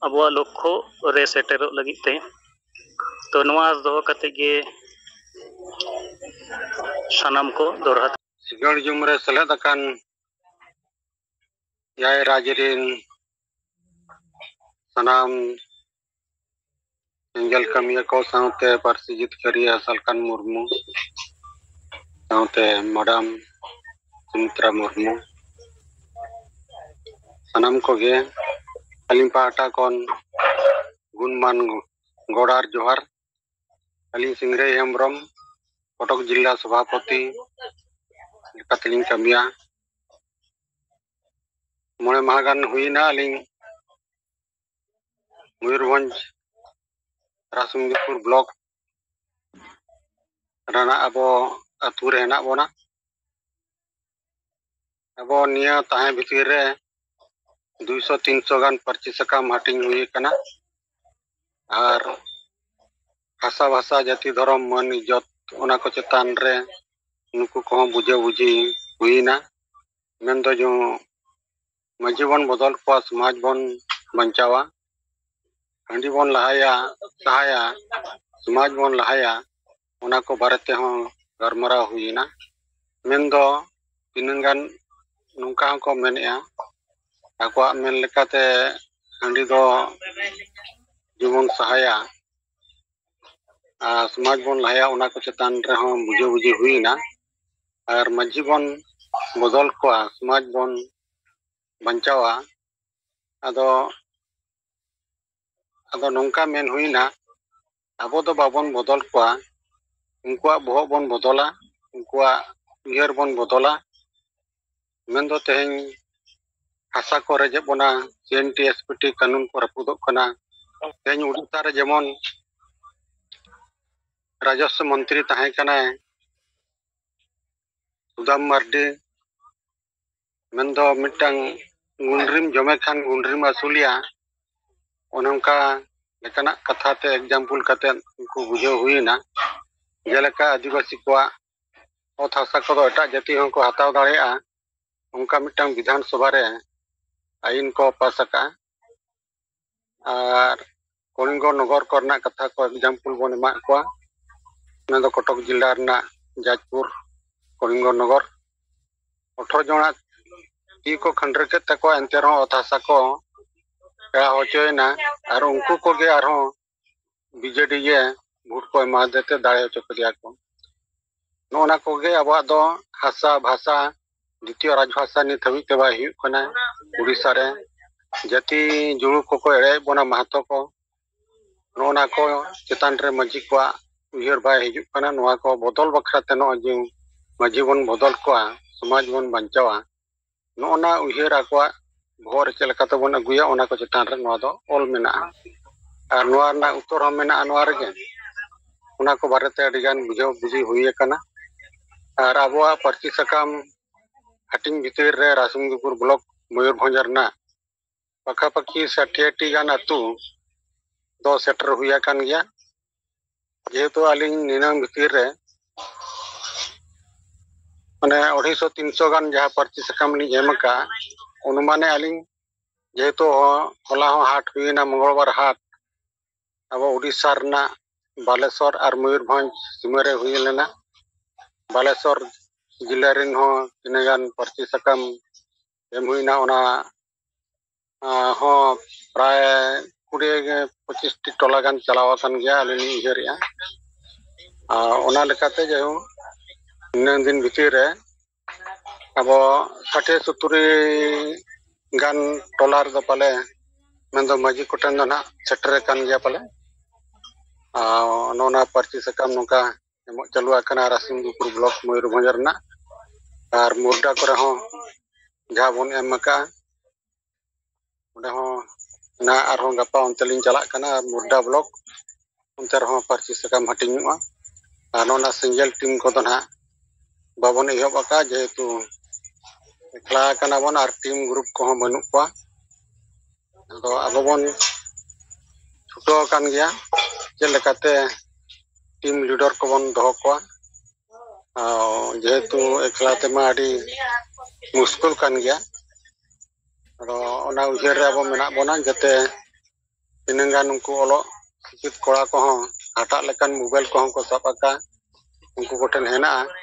ᱟᱵᱚᱣᱟᱜ ᱞᱚᱠᱠᱷᱚ ᱨᱮ ᱥᱮᱴᱮᱨᱚᱜ ᱞᱟᱹᱜᱤᱫ ᱛᱮ ᱛᱚ ᱱᱚᱣᱟ ᱫᱚᱦᱚ ᱠᱟᱛᱮ ᱜᱮ ᱥᱟᱱᱟᱢ ᱠᱚ ᱫᱚᱲᱦᱟ ᱥᱤᱜᱟᱹᱲ ᱡᱩᱢ ᱨᱮ ᱥᱮᱞᱮᱫ ᱟᱠᱟᱱ ᱮᱭᱟᱭ ᱨᱟᱡᱽ ᱨᱮᱱ ᱥᱟᱱᱟᱢ ᱮᱸᱜᱮᱞ ᱠᱟᱹᱢᱤᱭᱟᱹ ᱠᱚ ᱥᱟᱶᱛᱮ ᱯᱟᱹᱨᱥᱤ ᱡᱤᱛᱠᱟᱹᱨᱤᱭᱟᱹ ᱥᱟᱞᱠᱷᱟᱱ ᱢᱩᱨᱢᱩ ᱥᱟᱶᱛᱮ ᱢᱟᱰᱟᱢ ᱥᱩᱢᱤᱛᱨᱟ ᱢᱩᱨᱢᱩ ᱥᱟᱱᱟᱢ ᱠᱚᱜᱮ ᱟᱹᱞᱤᱧ ᱯᱟᱦᱴᱟ ᱠᱷᱚᱱ ᱜᱩᱱᱢᱟᱱ ᱜᱚᱲᱟᱨ ᱡᱚᱦᱟᱨ ᱟᱹᱞᱤᱧ ᱥᱤᱝᱨᱟᱹᱭ ᱦᱮᱢᱵᱨᱚᱢ ᱠᱚᱴᱚᱠ ᱡᱤᱞᱟ ᱥᱚᱵᱷᱟᱯᱚᱛᱤ ᱞᱮᱠᱟᱛᱮᱞᱤᱧ ᱠᱟᱹᱢᱤᱭᱟ ᱢᱚᱬᱮ ᱢᱟᱦᱟ ᱜᱟᱱ ᱦᱩᱭᱱᱟ ᱟᱹᱞᱤᱧ ᱢᱚᱭᱩᱨᱵᱷᱚᱸᱡᱽ ᱨᱟᱥᱢᱩᱱᱤᱯᱩᱨ ᱵᱞᱚᱠ ᱨᱮᱱᱟᱜ ᱟᱵᱚ ᱟᱛᱳ ᱨᱮ ᱦᱮᱱᱟᱜ ᱵᱚᱱᱟ ᱟᱵᱚ ᱱᱤᱭᱟᱹ ᱛᱟᱦᱮᱸ ᱵᱷᱤᱛᱤᱨ ᱨᱮ ᱫᱩᱭᱥᱚ ᱛᱤᱱᱥᱚ ᱜᱟᱱ ᱯᱟᱹᱨᱥᱤ ᱥᱟᱠᱟᱢ ᱦᱟᱹᱴᱤᱧ ᱦᱩᱭ ᱟᱠᱟᱱᱟ ᱟᱨ ᱦᱟᱥᱟ ᱵᱷᱟᱥᱟ ᱡᱟᱹᱛᱤ ᱫᱷᱚᱨᱚᱢ ᱢᱟᱹᱱ ᱤᱡᱚᱛ ᱚᱱᱟ ᱠᱚ ᱪᱮᱛᱟᱱ ᱨᱮ ᱱᱩᱠᱩ ᱠᱚᱦᱚᱸ ᱵᱩᱡᱷᱟᱹ ᱵᱩᱡᱷᱤ ᱦᱩᱭᱱᱟ ᱢᱮᱱᱫᱚ ᱡᱮ ᱢᱟᱺᱡᱷᱤ ᱵᱚᱱ ᱵᱚᱫᱚᱞ ᱠᱚᱣᱟ ᱥᱚᱢᱟᱡᱽ ᱵᱚᱱ ᱵᱟᱧᱪᱟᱣᱟ ᱦᱟᱺᱰᱤ ᱵᱚᱱ ᱞᱟᱦᱟᱭᱟ ᱥᱟᱦᱟᱭᱟ ᱥᱚᱢᱟᱡᱽ ᱵᱚᱱ ᱞᱟᱦᱟᱭᱟ ᱚᱱᱟ ᱠᱚ ᱵᱟᱨᱮ ᱛᱮᱦᱚᱸ ᱜᱟᱞᱢᱟᱨᱟᱣ ᱦᱩᱭᱮᱱᱟ ᱢᱮᱱᱫᱚ ᱛᱤᱱᱟᱹᱝ ᱜᱟᱱ ᱱᱚᱝᱠᱟ ᱦᱚᱸᱠᱚ ᱢᱮᱱᱮᱫᱼᱟ ᱟᱠᱚᱣᱟᱜ ᱢᱮᱱ ᱞᱮᱠᱟᱛᱮ ᱦᱟᱺᱰᱤ ᱫᱚ ᱡᱮᱢᱚᱱ ᱥᱟᱦᱟᱭᱟ ᱟᱨ ᱥᱚᱢᱟᱡᱽ ᱵᱚᱱ ᱞᱟᱦᱟᱭᱟ ᱚᱱᱟ ᱠᱚ ᱪᱮᱛᱟᱱ ᱨᱮᱦᱚᱸ ᱵᱩᱡᱷᱟᱹ ᱵᱩᱡᱷᱤ ᱦᱩᱭᱮᱱᱟ ᱟᱨ ᱢᱟᱺᱡᱷᱤ ᱵᱚᱱ ᱵᱚᱫᱚᱞ ᱠᱚᱣᱟ ᱥᱚᱢᱟᱡᱽ ᱵᱚᱱ ᱵᱟᱧᱪᱟᱣᱟ ᱟᱫᱚ ᱟᱫᱚ ᱱᱚᱝᱠᱟ ᱢᱮᱱ ᱦᱩᱭᱱᱟ ᱟᱵᱚ ᱫᱚ ᱵᱟᱵᱚᱱ ᱵᱚᱫᱚᱞ ᱠᱚᱣᱟ ᱩᱱᱠᱩᱣᱟᱜ ᱵᱚᱦᱚᱜ ᱵᱚᱱ ᱵᱚᱫᱚᱞᱟ ᱩᱱᱠᱩᱣᱟᱜ ᱩᱭᱦᱟᱹᱨ ᱵᱚᱱ ᱵᱚᱫᱚᱞᱟ ᱢᱮᱱᱫᱚ ᱛᱮᱦᱮᱧ ᱦᱟᱥᱟ ᱠᱚ ᱨᱮᱡᱮᱫ ᱵᱚᱱᱟ C N T S P T ᱠᱟᱹᱱᱩᱱ ᱠᱚ ᱨᱟᱹᱯᱩᱫᱚᱜ ᱠᱟᱱᱟ ᱛᱮᱦᱮᱧ ᱩᱲᱤᱥᱥᱟ ᱨᱮ ᱡᱮᱢᱚᱱ ᱨᱟᱡᱚᱥᱥᱚ ᱢᱚᱱᱛᱨᱤ ᱛᱟᱦᱮᱸ ᱠᱟᱱᱟᱭ ᱥᱩᱫᱟᱢ ᱢᱟᱨᱰᱤ ᱢᱮᱱᱫᱚ ᱢᱤᱫᱴᱟᱝ ᱜᱩᱱᱰᱨᱤᱢ ᱡᱚᱢᱮ ᱠᱷᱟᱱ ᱜᱩᱱᱰᱨᱤᱢ ᱟᱹᱥᱩᱞᱮᱭᱟ ᱚᱱᱮ ᱚᱱᱠᱟ ᱞᱮᱠᱟᱱᱟᱜ ᱠᱟᱛᱷᱟ ᱛᱮ ᱮᱠᱡᱟᱢᱯᱩᱞ ᱠᱟᱛᱮ ᱩᱱᱠᱩ ᱵᱩᱡᱷᱟᱹᱣ ᱦᱩᱭᱮᱱᱟ ᱡᱮᱞᱮᱠᱟ ᱟᱹᱫᱤᱵᱟᱹᱥᱤ ᱠᱚᱣᱟᱜ ᱚᱛ ᱦᱟᱥᱟ ᱠᱚᱫᱚ ᱮᱴᱟᱜ ᱡᱟᱹᱛᱤ ᱦᱚᱸᱠᱚ ᱦᱟᱛᱟᱣ ᱫᱟᱲᱮᱭᱟᱜᱼᱟ ᱚᱱᱠᱟ ᱢᱤᱫᱴᱟᱝ ᱵᱤᱫᱷᱟᱱ ᱥᱚᱵᱷᱟ ᱨᱮ ᱟᱹᱭᱤᱱ ᱠᱚ ᱯᱟᱥ ᱟᱠᱟᱜᱼᱟ ᱟᱨ ᱠᱚᱞᱤᱝᱜᱚ ᱱᱚᱜᱚᱨ ᱠᱚᱨᱮᱱᱟᱜ ᱠᱟᱛᱷᱟ ᱠᱚ ᱮᱠᱡᱟᱢᱯᱩᱞ ᱵᱚᱱ ᱮᱢᱟᱜ ᱠᱚᱣᱟ ᱚᱱᱟ ᱫᱚ ᱠᱚᱴᱚᱠ ᱡᱮᱞᱟ ᱨᱮᱱᱟᱜ ᱡᱟᱡᱽᱯᱩᱨ ᱠᱚᱞᱤᱝᱜᱚ ᱱᱚᱜᱚᱨ ᱚᱴᱷᱨᱚ ᱡᱚᱱᱟᱜ ᱛᱤ ᱠᱚ ᱠᱷᱟᱹᱱᱰᱨᱟᱹ ᱠᱮᱫ ᱛᱟᱠᱚᱣᱟ ᱮᱱᱛᱮ ᱨᱮᱦᱚᱸ ᱚᱛ ᱦᱟᱥᱟ ᱠᱚ ᱯᱮᱲᱟ ᱦᱚᱪᱚᱭᱮᱱᱟ ᱟᱨ ᱩᱱᱠᱩ ᱠᱚᱜᱮ ᱟᱨᱦᱚᱸ ᱵᱤᱡᱮᱰᱤ ᱜᱮ ᱵᱷᱳᱴ ᱠᱚ ᱮᱢᱟ ᱫᱮᱛᱮ ᱫᱟᱲᱮ ᱦᱚᱪᱚ ᱠᱮᱫᱮᱭᱟ ᱠᱚ ᱱᱚᱜᱼᱚ ᱱᱟ ᱠᱚᱜᱮ ᱟᱵᱚᱣᱟᱜ ᱫᱚ ᱦᱟᱥᱟ ᱵᱷᱟᱥᱟ ᱫᱤᱛᱤᱭᱚ ᱨᱟᱡᱽ ᱵᱷᱟᱥᱟ ᱱᱤᱛ ᱦᱟᱹᱵᱤᱡ ᱛᱮ ᱵᱟᱭ ᱦᱩᱭᱩᱜ ᱠᱟᱱᱟ ᱩᱲᱤᱥᱥᱟ ᱨᱮ ᱡᱟᱹᱛᱤ ᱡᱩᱲᱩ ᱠᱚᱠᱚ ᱮᱲᱮᱭᱮᱫ ᱵᱚᱱᱟ ᱢᱟᱦᱟᱛᱚ ᱠᱚ ᱱᱚᱜᱼᱚ ᱱᱟ ᱠᱚ ᱪᱮᱛᱟᱱ ᱨᱮ ᱢᱟᱹᱡᱷᱤ ᱠᱚᱣᱟᱜ ᱩᱭᱦᱟᱹᱨ ᱵᱟᱭ ᱦᱤᱡᱩᱜ ᱠᱟᱱᱟ ᱱᱚᱣᱟ ᱠᱚ ᱵᱚᱫᱚᱞ ᱵᱟᱠᱷᱨᱟ ᱛᱮ ᱱᱚᱜᱼᱚᱭ ᱡᱮ ᱢᱟᱹᱡᱷᱤ ᱵᱚᱱ ᱵᱚᱫᱚᱞ ᱠᱚᱣᱟ ᱥᱚᱢᱟᱡᱽ ᱵᱚᱱ ᱵᱟᱧᱪᱟᱣᱟ ᱱᱚᱜᱼᱚ ᱱᱟ ᱩᱭᱦᱟᱹᱨ ᱟᱠᱚᱣᱟᱜ ᱵᱚᱦᱚᱜ ᱨᱮ ᱪᱮᱫ ᱞᱮᱠᱟ ᱛᱮᱵᱚᱱ ᱟᱹᱜᱩᱭᱟ ᱚᱱᱟ ᱠᱚ ᱪᱮᱛᱟᱱ ᱨᱮ ᱱᱚᱣᱟ ᱫᱚ ᱚᱞ ᱢᱮᱱᱟᱜᱼᱟ ᱟᱨ ᱱᱚᱣᱟ ᱨᱮᱱᱟᱜ ᱩᱛᱛᱚᱨ ᱦᱚᱸ ᱢᱮᱱᱟᱜᱼᱟ ᱱᱚᱣᱟ ᱨᱮᱜᱮ ᱚᱱᱟ ᱠᱚ ᱵᱟᱨᱮᱛᱮ ᱟᱹᱰᱤᱜᱟᱱ ᱵᱩᱡᱷᱟᱹᱣ ᱵᱩᱡᱷᱤ ᱦᱩᱭ ᱟᱠᱟᱱᱟ ᱟᱨ ᱟᱵᱚᱣᱟᱜ ᱯᱟᱹᱨᱥᱤ ᱥᱟᱠᱟᱢ ᱦᱟᱹᱴᱤᱧ ᱵᱷᱤᱛᱤᱨ ᱨᱮ ᱨᱟᱥᱢᱩᱱᱫᱤᱯᱩᱨ ᱵᱞᱚᱠ ᱢᱚᱭᱩᱨᱵᱷᱚᱸᱡᱽ ᱨᱮᱱᱟᱜ ᱯᱟᱠᱷᱟᱯᱟᱠᱷᱤ ᱥᱟᱴᱷᱤᱭᱟᱴᱤ ᱜᱟᱱ ᱟᱹᱛᱩ ᱫᱚ ᱥᱮᱴᱮᱨ ᱦᱩᱭ ᱟᱠᱟᱱ ᱜᱮᱭᱟ ᱡᱮᱦᱮᱛᱩ ᱟᱹᱞᱤᱧ ᱱᱤᱱᱟᱹᱝ ᱵᱷᱤᱛᱤᱨ ᱨᱮ ᱢᱟᱱᱮ ᱚᱲᱟᱭᱥᱚ ᱛᱤᱱᱥᱚ ᱜᱟᱱ ᱡᱟᱦᱟᱸ ᱯᱟᱹᱨᱪᱤ ᱥᱟᱠᱟᱢ ᱞᱤᱧ ᱮᱢ ᱟᱠᱟᱫᱼᱟ ᱚᱱᱩᱢᱟᱱᱮ ᱟᱹᱞᱤᱧ ᱡᱮᱦᱮᱛᱩ ᱦᱚᱞᱟ ᱦᱚᱸ ᱦᱟᱴ ᱦᱩᱭᱮᱱᱟ ᱢᱚᱝᱜᱚᱞᱵᱟᱨ ᱦᱟᱴ ᱟᱵᱚ ᱩᱲᱤᱥᱥᱟ ᱨᱮᱱᱟᱜ ᱵᱟᱞᱮᱥᱚᱨ ᱟᱨ ᱢᱚᱭᱩᱨᱵᱷᱚᱸᱡᱽ ᱥᱤᱢᱟᱹ ᱨᱮ ᱦᱩᱭ ᱞᱮᱱᱟ ᱵᱟᱞᱮᱥᱚᱨ ᱡᱮᱞᱟ ᱨᱮᱱ ᱦᱚᱸ ᱛᱤᱱᱟᱹᱜ ᱜᱟᱱ ᱯᱟᱹᱨᱪᱤ ᱥᱟᱠᱟᱢ ᱮᱢ ᱦᱩᱭᱱᱟ ᱚᱱᱟ ᱦᱚᱸ ᱯᱨᱟᱭ ᱠᱩᱲᱤ ᱯᱚᱸᱪᱤᱥᱴᱤ ᱴᱚᱞᱟ ᱜᱟᱱ ᱪᱟᱞᱟᱣ ᱟᱠᱟᱱ ᱜᱮᱭᱟ ᱟᱹᱞᱤᱧ ᱞᱤᱧ ᱩᱭᱦᱟᱹᱨᱮᱜᱼᱟ ᱟᱨ ᱚᱱᱟ ᱞᱮᱠᱟᱛᱮ ᱡᱟᱭᱦᱳᱠ ᱱᱤᱱᱟᱹᱜ ᱫᱤᱱ ᱵᱷᱤᱛᱤᱨ ᱨᱮ ᱟᱵᱚ ᱥᱟᱴᱮ ᱥᱚᱛᱩᱨᱤ ᱜᱟᱱ ᱴᱚᱞᱟ ᱨᱮᱫᱚ ᱯᱟᱞᱮ ᱢᱮᱱᱫᱚ ᱢᱟᱹᱡᱷᱤ ᱠᱚᱴᱷᱮᱱ ᱫᱚ ᱱᱟᱜ ᱥᱮᱴᱮᱨ ᱟᱠᱟᱱ ᱜᱮᱭᱟ ᱯᱟᱞᱮ ᱟᱨ ᱱᱚᱜᱼᱚ ᱱᱚᱣᱟ ᱯᱟᱹᱨᱥᱤ ᱥᱟᱠᱟᱢ ᱱᱚᱝᱠᱟ ᱮᱢᱚᱜ ᱪᱟᱹᱞᱩ ᱟᱠᱟᱱᱟ ᱨᱟᱥᱤᱢᱫᱩᱯᱩᱨ ᱵᱞᱚᱠ ᱢᱚᱭᱩᱨᱵᱷᱚᱸᱡᱽ ᱨᱮᱱᱟᱜ ᱟᱨ ᱢᱩᱨᱰᱟ ᱠᱚᱨᱮ ᱦᱚᱸ ᱡᱟᱦᱟᱸ ᱵᱚᱱ ᱮᱢ ᱟᱠᱟᱜᱼᱟ ᱚᱸᱰᱮ ᱦᱚᱸ ᱚᱱᱟ ᱟᱨᱦᱚᱸ ᱜᱟᱯᱟ ᱚᱱᱛᱮ ᱞᱤᱧ ᱪᱟᱞᱟᱜ ᱠᱟᱱᱟ ᱢᱩᱨᱰᱟ ᱵᱞᱚᱠ ᱚᱱᱛᱮ ᱨᱮᱦᱚᱸ ᱯᱟᱹᱨᱥᱤ ᱥᱟᱠᱟᱢ ᱦᱟᱹᱴᱤᱧᱚᱜᱼᱟ ᱟᱨ ᱱᱚᱣᱟ ᱥᱤᱸᱜᱮᱞ ᱴᱤᱢ ᱠᱚᱫᱚ ᱱᱟᱦᱟᱜ ᱵᱟᱵᱚᱱ ᱮᱦᱚᱵ ᱟᱠᱟᱫ ᱡᱮᱦᱮᱛᱩ ᱮᱠᱞᱟ ᱠᱟᱱᱟ ᱵᱚᱱ ᱟᱨ ᱴᱤᱢ ᱜᱨᱩᱯ ᱠᱚᱦᱚᱸ ᱵᱟᱹᱱᱩᱜ ᱠᱚᱣᱟ ᱟᱫᱚ ᱟᱵᱚ ᱵᱚᱱ ᱪᱷᱩᱴᱟᱹᱣ ᱟᱠᱟᱱ ᱜᱮᱭᱟ ᱪᱮᱫ ᱞᱮᱠᱟᱛᱮ ᱴᱤᱢ ᱞᱤᱰᱟᱨ ᱠᱚᱵᱚᱱ ᱫᱚᱦᱚ ᱠᱚᱣᱟ ᱡᱮᱦᱮᱛᱩ ᱮᱠᱞᱟ ᱛᱮᱢᱟ ᱟᱹᱰᱤ ᱢᱩᱥᱠᱤᱞ ᱠᱟᱱ ᱜᱮᱭᱟ ᱟᱫᱚ ᱚᱱᱟ ᱩᱭᱦᱟᱹᱨ ᱨᱮ ᱟᱵᱚ ᱢᱮᱱᱟᱜ ᱵᱚᱱᱟ ᱡᱟᱛᱮ ᱛᱤᱱᱟᱹᱝ ᱜᱟᱱ ᱩᱱᱠᱩ ᱚᱞᱚᱜ ᱥᱤᱠᱷᱤᱛ ᱠᱚᱲᱟ ᱠᱚᱦᱚᱸ ᱦᱟᱴᱟᱜ ᱞᱮᱠᱟᱱ ᱢᱳᱵᱟᱭᱤᱞ ᱠᱚᱦᱚᱸ ᱠᱚ ᱥᱟᱵ ᱟᱠᱟᱫ ᱩᱱᱠᱩ ᱠᱚᱴᱷᱮᱱ ᱦᱮᱱᱟᱜᱼᱟ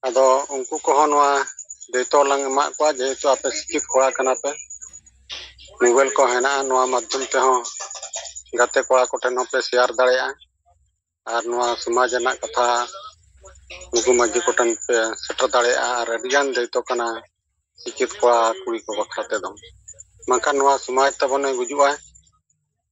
ᱟᱫᱚ ᱩᱱᱠᱩ ᱠᱚᱦᱚᱸ ᱱᱚᱣᱟ ᱫᱟᱭᱤᱛᱛᱚ ᱞᱟᱝ ᱮᱢᱟᱫ ᱠᱚᱣᱟ ᱡᱮᱦᱮᱛᱩ ᱟᱯᱮ ᱥᱤᱠᱠᱷᱤᱛ ᱠᱚᱲᱟ ᱠᱟᱱᱟ ᱯᱮ ᱢᱳᱵᱟᱭᱤᱞ ᱠᱚ ᱦᱮᱱᱟᱜᱼᱟ ᱱᱚᱣᱟ ᱢᱟᱫᱽᱫᱷᱚᱢ ᱛᱮᱦᱚᱸ ᱜᱟᱛᱮ ᱠᱚᱲᱟ ᱠᱚᱴᱷᱮᱱ ᱦᱚᱸᱯᱮ ᱥᱮᱭᱟᱨ ᱫᱟᱲᱮᱭᱟᱜᱼᱟ ᱟᱨ ᱱᱚᱣᱟ ᱥᱚᱢᱟᱡᱽ ᱨᱮᱱᱟᱜ ᱠᱟᱛᱷᱟ ᱱᱩᱠᱩ ᱢᱟᱹᱡᱷᱤ ᱠᱚᱴᱷᱮᱱ ᱯᱮ ᱥᱮᱴᱮᱨ ᱫᱟᱲᱮᱭᱟᱜᱼᱟ ᱟᱨ ᱟᱹᱰᱤᱜᱟᱱ ᱫᱟᱭᱤᱛᱛᱚ ᱠᱟᱱᱟ ᱥᱤᱠᱠᱷᱤᱛ ᱠᱚᱲᱟ ᱠᱩᱲᱤ ᱠᱚ ᱵᱟᱠᱷᱨᱟ ᱛᱮᱫᱚ ᱵᱟᱝᱠᱷᱟᱱ ᱱᱚᱣᱟ ᱥᱚᱢᱟᱡᱽ ᱛᱟᱵᱚᱱᱮ ᱜᱩᱡᱩᱜᱼᱟ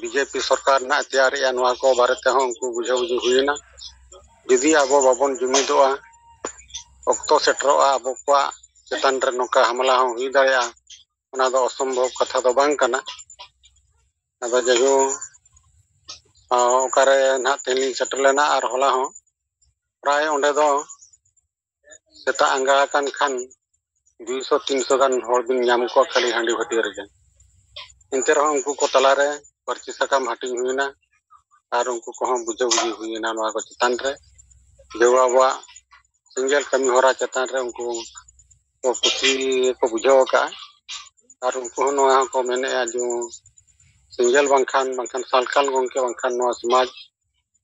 ᱵᱤᱡᱮᱯᱤ ᱥᱚᱨᱠᱟᱨ ᱱᱟᱜ ᱛᱮᱭᱟᱨᱮᱜᱼᱟ ᱱᱚᱣᱟ ᱠᱚ ᱵᱟᱨᱮ ᱛᱮᱦᱚᱸ ᱩᱱᱠᱩ ᱵᱩᱡᱷᱟᱹᱣ ᱵᱩᱡᱷᱟᱹᱣ ᱦᱩᱭᱮᱱᱟ ᱡᱩᱫᱤ ᱟᱵᱚ ᱵᱟᱵᱚᱱ ᱡᱩᱢᱤᱫᱚᱜᱼᱟ ᱚᱠᱛᱚ ᱥᱮᱴᱮᱨᱚᱜᱼᱟ ᱟᱵᱚ ᱠᱚᱣᱟᱜ ᱪᱮᱛᱟᱱ ᱨᱮ ᱱᱚᱝᱠᱟ ᱦᱟᱢᱞᱟ ᱦᱚᱸ ᱦᱩᱭ ᱫᱟᱲᱮᱭᱟᱜᱼᱟ ᱚᱱᱟ ᱫᱚ ᱚᱥᱚᱢᱵᱷᱚᱵ ᱠᱟᱛᱷᱟ ᱫᱚ ᱵᱟᱝ ᱠᱟᱱᱟ ᱟᱫᱚ ᱡᱟᱭᱦᱳᱠ ᱚᱠᱟᱨᱮ ᱱᱟᱜ ᱛᱮᱦᱮᱧ ᱞᱤᱧ ᱥᱮᱴᱮᱨ ᱞᱮᱱᱟ ᱟᱨ ᱦᱚᱞᱟ ᱦᱚᱸ ᱯᱨᱟᱭ ᱚᱸᱰᱮ ᱫᱚ ᱥᱮᱛᱟᱜ ᱟᱸᱜᱟ ᱟᱠᱟᱱ ᱠᱷᱟᱱ ᱫᱩᱭᱥᱚ ᱛᱤᱱᱥᱚ ᱜᱟᱱ ᱦᱚᱲ ᱵᱤᱱ ᱧᱟᱢ ᱠᱚᱣᱟ ᱠᱷᱟᱹᱞᱤ ᱦᱟᱺᱰᱤ ᱵᱷᱟᱹᱴᱤ ᱨᱮᱜᱮ ᱮᱱᱛᱮ ᱨᱮᱦᱚᱸ ᱩᱱᱠᱩ ᱠᱚ ᱛᱟᱞᱟᱨᱮ ᱯᱟᱹᱨᱪᱤ ᱥᱟᱠᱟᱢ ᱦᱟᱹᱴᱤᱧ ᱦᱩᱭᱮᱱᱟ ᱟᱨ ᱩᱱᱠᱩ ᱠᱚᱦᱚᱸ ᱵᱩᱡᱷᱟᱹ ᱵᱩᱡᱷᱤ ᱦᱩᱭᱮᱱᱟ ᱱᱚᱣᱟ ᱠᱚ ᱪᱮᱛᱟᱱ ᱨᱮ ᱡᱮ ᱟᱵᱚᱣᱟᱜ ᱥᱮᱸᱜᱮᱞ ᱠᱟᱹᱢᱤ ᱦᱚᱨᱟ ᱪᱮᱛᱟᱱ ᱨᱮ ᱩᱱᱠᱩ ᱠᱚ ᱠᱩᱥᱤ ᱠᱚ ᱵᱩᱡᱷᱟᱹᱣ ᱟᱠᱟᱫᱼᱟ ᱟᱨ ᱩᱱᱠᱩ ᱦᱚᱸ ᱱᱚᱣᱟ ᱦᱚᱸᱠᱚ ᱢᱮᱱᱮᱫᱼᱟ ᱡᱮ ᱥᱮᱸᱜᱮᱞ ᱵᱟᱝᱠᱷᱟᱱ ᱵᱟᱝᱠᱷᱟᱱ ᱥᱟᱞᱠᱷᱟᱱ ᱜᱚᱢᱠᱮ ᱵᱟᱝᱠᱷᱟᱱ ᱱᱚᱣᱟ ᱥᱚᱢᱟᱡᱽ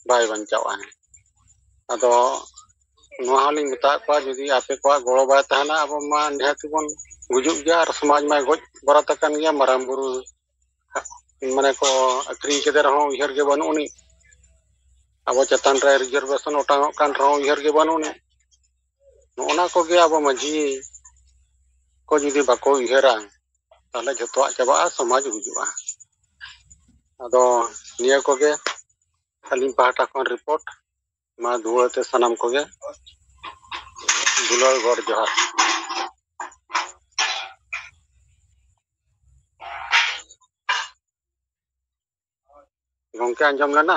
ᱵᱟᱭ ᱵᱟᱧᱪᱟᱣᱚᱜᱼᱟ ᱟᱫᱚ ᱱᱚᱣᱟ ᱦᱚᱸᱞᱤᱧ ᱢᱮᱛᱟᱫ ᱠᱚᱣᱟ ᱡᱩᱫᱤ ᱟᱯᱮ ᱠᱚᱣᱟᱜ ᱜᱚᱲᱚ ᱵᱟᱭ ᱛᱟᱦᱮᱱᱟ ᱟᱵᱚ ᱢᱟ ᱱᱤᱦᱟᱹᱛ ᱵᱚᱱ ᱜᱩᱡᱩᱜ ᱜᱮᱭᱟ ᱟᱨ ᱥᱚᱢᱟᱡᱽ ᱢᱟᱭ ᱜᱚᱡ ᱵᱟᱨᱟᱛ ᱟᱠᱟᱱ ᱜᱮᱭᱟ ᱢᱟᱨᱟᱝ ᱵᱩᱨᱩ ᱢᱟᱱᱮ ᱠᱚ ᱟᱹᱠᱷᱨᱤᱧ ᱠᱮᱫᱮ ᱨᱮᱦᱚᱸ ᱩᱭᱦᱟᱹᱨ ᱜᱮ ᱵᱟᱹᱱᱩᱜ ᱟᱹᱱᱤᱡ ᱟᱵᱚ ᱪᱮᱛᱟᱱ ᱨᱮ ᱨᱤᱡᱟᱨᱵᱷᱮᱥᱚᱱ ᱚᱴᱟᱝᱚᱜ ᱠᱟᱱ ᱨᱮᱦᱚᱸ ᱩᱭᱦᱟᱹᱨ ᱜᱮ ᱵᱟᱹᱱᱩᱜ ᱟᱹᱱᱤᱡ ᱱᱚᱜᱼᱱᱟ ᱠᱚᱜᱮ ᱟᱵᱚ ᱢᱟᱺᱡᱷᱤ ᱠᱚ ᱡᱩᱫᱤ ᱵᱟᱠᱚ ᱩᱭᱦᱟᱹᱨᱟ ᱛᱟᱦᱚᱞᱮ ᱡᱷᱚᱛᱚᱣᱟᱜ ᱪᱟᱵᱟᱜᱼᱟ ᱥᱚᱢᱟᱡᱽ ᱜᱩᱡᱩᱜᱼᱟ ᱟᱫᱚ ᱱᱤᱭᱟᱹ ᱠᱚᱜᱮ ᱟᱹᱞᱤᱧ ᱯᱟᱦᱴᱟ ᱠᱷᱚᱱ ᱨᱤᱯᱳᱨᱴ ᱢᱟ ᱫᱩᱣᱟᱹᱛᱮ ᱥᱟᱱᱟᱢ ᱠᱚᱜᱮ ᱫᱩᱞᱟᱹᱲ ᱜᱚᱰ ᱡᱚᱦᱟᱨ ᱜᱚᱝᱠᱮ ᱟᱸᱡᱚᱢ ᱞᱮᱱᱟ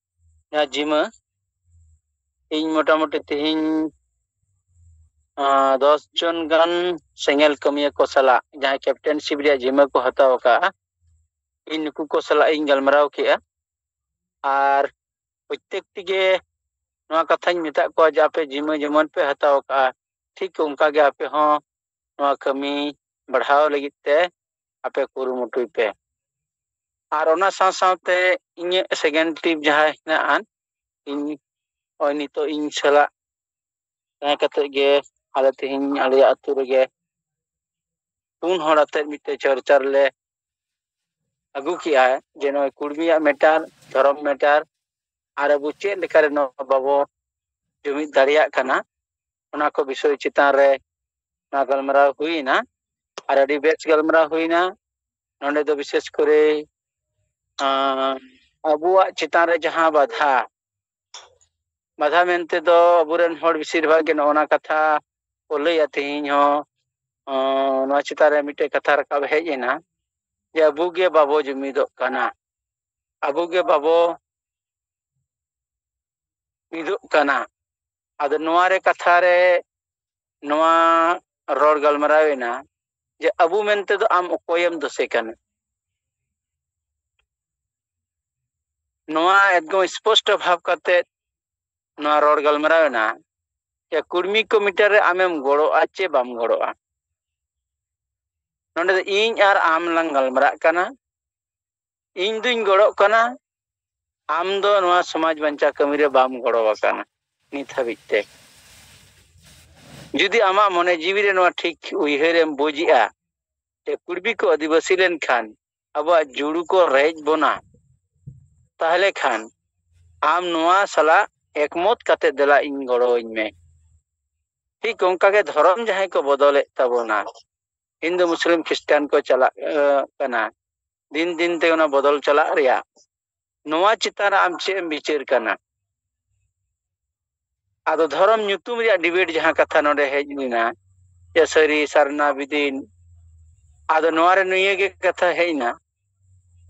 ᱡᱟᱦᱟᱸ ᱡᱤᱢᱟᱹ ᱤᱧ ᱢᱚᱴᱟᱢᱩᱴᱤ ᱛᱮᱦᱮᱧ ᱫᱚᱥ ᱡᱚᱱ ᱜᱟᱱ ᱥᱮᱸᱜᱮᱞ ᱠᱟᱹᱢᱤᱭᱟᱹ ᱠᱚ ᱥᱟᱞᱟᱜ ᱡᱟᱦᱟᱸᱭ ᱠᱮᱯᱴᱮᱱᱥᱤᱯ ᱨᱮᱭᱟᱜ ᱡᱤᱢᱟᱹ ᱠᱚ ᱦᱟᱛᱟᱣ ᱟᱠᱟᱫᱼᱟ ᱤᱧ ᱱᱩᱠᱩ ᱠᱚ ᱥᱟᱞᱟᱜ ᱤᱧ ᱜᱟᱞᱢᱟᱨᱟᱣ ᱠᱮᱫᱼᱟ ᱟᱨ ᱯᱨᱚᱛᱮᱠ ᱛᱮᱜᱮ ᱱᱚᱣᱟ ᱠᱟᱛᱷᱟᱧ ᱢᱮᱛᱟᱫ ᱠᱚᱣᱟ ᱡᱮ ᱟᱯᱮ ᱡᱤᱢᱟᱹ ᱡᱮᱢᱚᱱ ᱯᱮ ᱦᱟᱛᱟᱣ ᱠᱟᱜᱼᱟ ᱴᱷᱤᱠ ᱚᱱᱠᱟᱜᱮ ᱟᱯᱮ ᱦᱚᱸ ᱱᱚᱣᱟ ᱠᱟᱹᱢᱤ ᱵᱟᱲᱦᱟᱣ ᱞᱟᱹᱜᱤᱫ ᱛᱮ ᱟᱯᱮ ᱠᱩᱨᱩᱢᱩᱴᱩᱭ ᱯᱮ ᱟᱨ ᱚᱱᱟ ᱥᱟᱶ ᱥᱟᱶᱛᱮ ᱤᱧᱟᱹᱜ ᱥᱮᱠᱮᱱᱰ ᱴᱤᱯ ᱡᱟᱦᱟᱸ ᱦᱮᱱᱟᱜᱼᱟ ᱤᱧ ᱱᱚᱜᱼᱚᱭ ᱱᱤᱛᱚᱜ ᱤᱧ ᱥᱟᱞᱟᱜ ᱛᱟᱦᱮᱸ ᱠᱟᱛᱮᱫ ᱜᱮ ᱟᱞᱮ ᱛᱮᱦᱮᱧ ᱟᱞᱮᱭᱟᱜ ᱟᱹᱛᱩ ᱨᱮᱜᱮ ᱯᱩᱱ ᱦᱚᱲ ᱟᱛᱮᱫ ᱢᱤᱫᱴᱮᱡ ᱪᱚᱨᱪᱟ ᱨᱮᱞᱮ ᱟᱹᱜᱩ ᱠᱮᱜᱼᱟ ᱡᱮ ᱱᱚᱜᱼᱚᱭ ᱠᱩᱲᱢᱤᱭᱟᱜ ᱢᱮᱴᱟᱨ ᱫᱷᱚᱨᱚᱢ ᱢᱮᱴᱟᱨ ᱟᱨ ᱟᱵᱚ ᱪᱮᱫ ᱞᱮᱠᱟᱨᱮ ᱱᱚᱣᱟ ᱵᱟᱵᱚ ᱡᱩᱢᱤᱫ ᱫᱟᱲᱮᱭᱟᱜ ᱠᱟᱱᱟ ᱚᱱᱟ ᱠᱚ ᱵᱤᱥᱚᱭ ᱪᱮᱛᱟᱱ ᱨᱮ ᱱᱚᱣᱟ ᱜᱟᱞᱢᱟᱨᱟᱣ ᱦᱩᱭᱮᱱᱟ ᱟᱨ ᱟᱹᱰᱤ ᱵᱮᱥ ᱜᱟᱞᱢᱟᱨᱟᱣ ᱦᱩᱭᱮᱱᱟ ᱱᱚᱰᱮ ᱫᱚ ᱵᱤᱥᱮᱥ ᱠᱚᱨᱮ ᱟᱵᱚᱣᱟᱜ ᱪᱮᱛᱟᱱ ᱨᱮ ᱡᱟᱦᱟᱸ ᱵᱟᱫᱷᱟ ᱵᱟᱫᱷᱟ ᱢᱮᱱᱛᱮ ᱫᱚ ᱟᱵᱚᱨᱮᱱ ᱦᱚᱲ ᱵᱮᱥᱤᱨ ᱵᱷᱟᱜᱽ ᱜᱮ ᱱᱚᱜᱼᱚ ᱱᱟ ᱠᱟᱛᱷᱟ ᱠᱚ ᱞᱟᱹᱭᱟ ᱛᱮᱦᱮᱧ ᱦᱚᱸ ᱱᱚᱣᱟ ᱪᱮᱛᱟᱱ ᱨᱮ ᱢᱤᱫᱴᱮᱡ ᱠᱟᱛᱷᱟ ᱨᱟᱠᱟᱵ ᱦᱮᱡ ᱮᱱᱟ ᱡᱮ ᱟᱵᱚ ᱜᱮ ᱵᱟᱵᱚ ᱡᱩᱢᱤᱫᱚᱜ ᱠᱟᱱᱟ ᱟᱵᱚ ᱜᱮ ᱵᱟᱵᱚ ᱢᱤᱫᱚᱜ ᱠᱟᱱᱟ ᱟᱫᱚ ᱱᱚᱣᱟ ᱨᱮ ᱠᱟᱛᱷᱟ ᱨᱮ ᱱᱚᱣᱟ ᱨᱚᱲ ᱜᱟᱞᱢᱟᱨᱟᱣ ᱮᱱᱟ ᱡᱮ ᱟᱵᱚ ᱢᱮᱱᱛᱮ ᱫᱚ ᱟᱢ ᱚᱠᱚᱭᱮᱢ ᱫᱳᱥᱮ ᱠᱟᱱᱟ ᱱᱚᱣᱟ ᱮᱠᱫᱚᱢ ᱥᱯᱚᱥᱴᱚ ᱵᱷᱟᱵ ᱠᱟᱛᱮ ᱱᱚᱣᱟ ᱨᱚᱲ ᱜᱟᱞᱢᱟᱨᱟᱣ ᱮᱱᱟ ᱡᱮ ᱠᱩᱲᱢᱤ ᱠᱚᱢᱤᱴᱟᱨ ᱨᱮ ᱟᱢᱮᱢ ᱜᱚᱲᱚᱜᱼᱟ ᱪᱮ ᱵᱟᱢ ᱜᱚᱲᱚᱜᱼᱟ ᱱᱚᱰᱮ ᱫᱚ ᱤᱧ ᱟᱨ ᱟᱢ ᱞᱟᱝ ᱜᱟᱞᱢᱟᱨᱟᱜ ᱠᱟᱱᱟ ᱤᱧ ᱫᱩᱧ ᱜᱚᱲᱚᱜ ᱠᱟᱱᱟ ᱟᱢ ᱫᱚ ᱱᱚᱣᱟ ᱥᱚᱢᱟᱡᱽ ᱵᱟᱧᱪᱟᱣ ᱠᱟᱹᱢᱤ ᱨᱮ ᱵᱟᱢ ᱜᱚᱲᱚ ᱟᱠᱟᱱᱟ ᱱᱤᱛ ᱦᱟᱹᱵᱤᱡ ᱛᱮ ᱡᱩᱫᱤ ᱟᱢᱟᱜ ᱢᱚᱱᱮ ᱡᱤᱣᱤ ᱨᱮ ᱱᱚᱣᱟ ᱴᱷᱤᱠ ᱩᱭᱦᱟᱹᱨ ᱮᱢ ᱵᱩᱡᱮᱜᱼᱟ ᱡᱮ ᱠᱩᱲᱵᱤ ᱠᱚ ᱟᱹᱫᱤᱵᱟᱹᱥᱤ ᱞᱮᱱᱠᱷᱟᱱ ᱟᱵᱚᱣᱟᱜ ᱡᱩᱲᱩ ᱠᱚ ᱨᱮᱡ ᱵᱚᱱᱟ ᱛᱟᱦᱞᱮ ᱠᱷᱟᱱ ᱟᱢ ᱱᱚᱣᱟ ᱥᱟᱞᱟᱜ ᱮᱠᱢᱚᱛ ᱠᱟᱛᱮ ᱫᱮᱞᱟ ᱤᱧ ᱜᱚᱲᱚᱣᱟᱹᱧ ᱢᱮ ᱴᱷᱤᱠ ᱚᱱᱠᱟᱜᱮ ᱫᱷᱚᱨᱚᱢ ᱡᱟᱦᱟᱸᱭ ᱠᱚ ᱵᱚᱫᱚᱞᱮᱫ ᱛᱟᱵᱚᱱᱟ ᱦᱤᱱᱫᱩ ᱢᱩᱥᱞᱤᱢ ᱠᱷᱨᱤᱥᱴᱟᱱ ᱠᱚ ᱪᱟᱞᱟᱜ ᱠᱟᱱᱟ ᱫᱤᱱ ᱫᱤᱱ ᱛᱮ ᱚᱱᱟ ᱵᱚᱫᱚᱞ ᱪᱟᱞᱟᱜ ᱨᱮᱭᱟᱜ ᱱᱚᱣᱟ ᱪᱮᱛᱟᱱ ᱨᱮ ᱟᱢ ᱪᱮᱫ ᱮᱢ ᱵᱤᱪᱟᱹᱨ ᱠᱟᱱᱟ ᱟᱫᱚ ᱫᱷᱚᱨᱚᱢ ᱧᱩᱛᱩᱢ ᱨᱮᱭᱟᱜ ᱰᱤᱵᱮᱴ ᱡᱟᱦᱟᱸ ᱠᱟᱛᱷᱟ ᱱᱚᱰᱮ ᱦᱮᱡ ᱞᱮᱱᱟ ᱡᱮ ᱥᱟᱹᱨᱤ ᱥᱟᱨᱱᱟ ᱵᱤᱫᱤᱱ ᱟᱫᱚ ᱱᱚᱣᱟ ᱨᱮ ᱱᱤᱭᱟᱹ ᱜᱮ ᱠᱟᱛᱷᱟ ᱦᱮᱡ ᱮᱱᱟ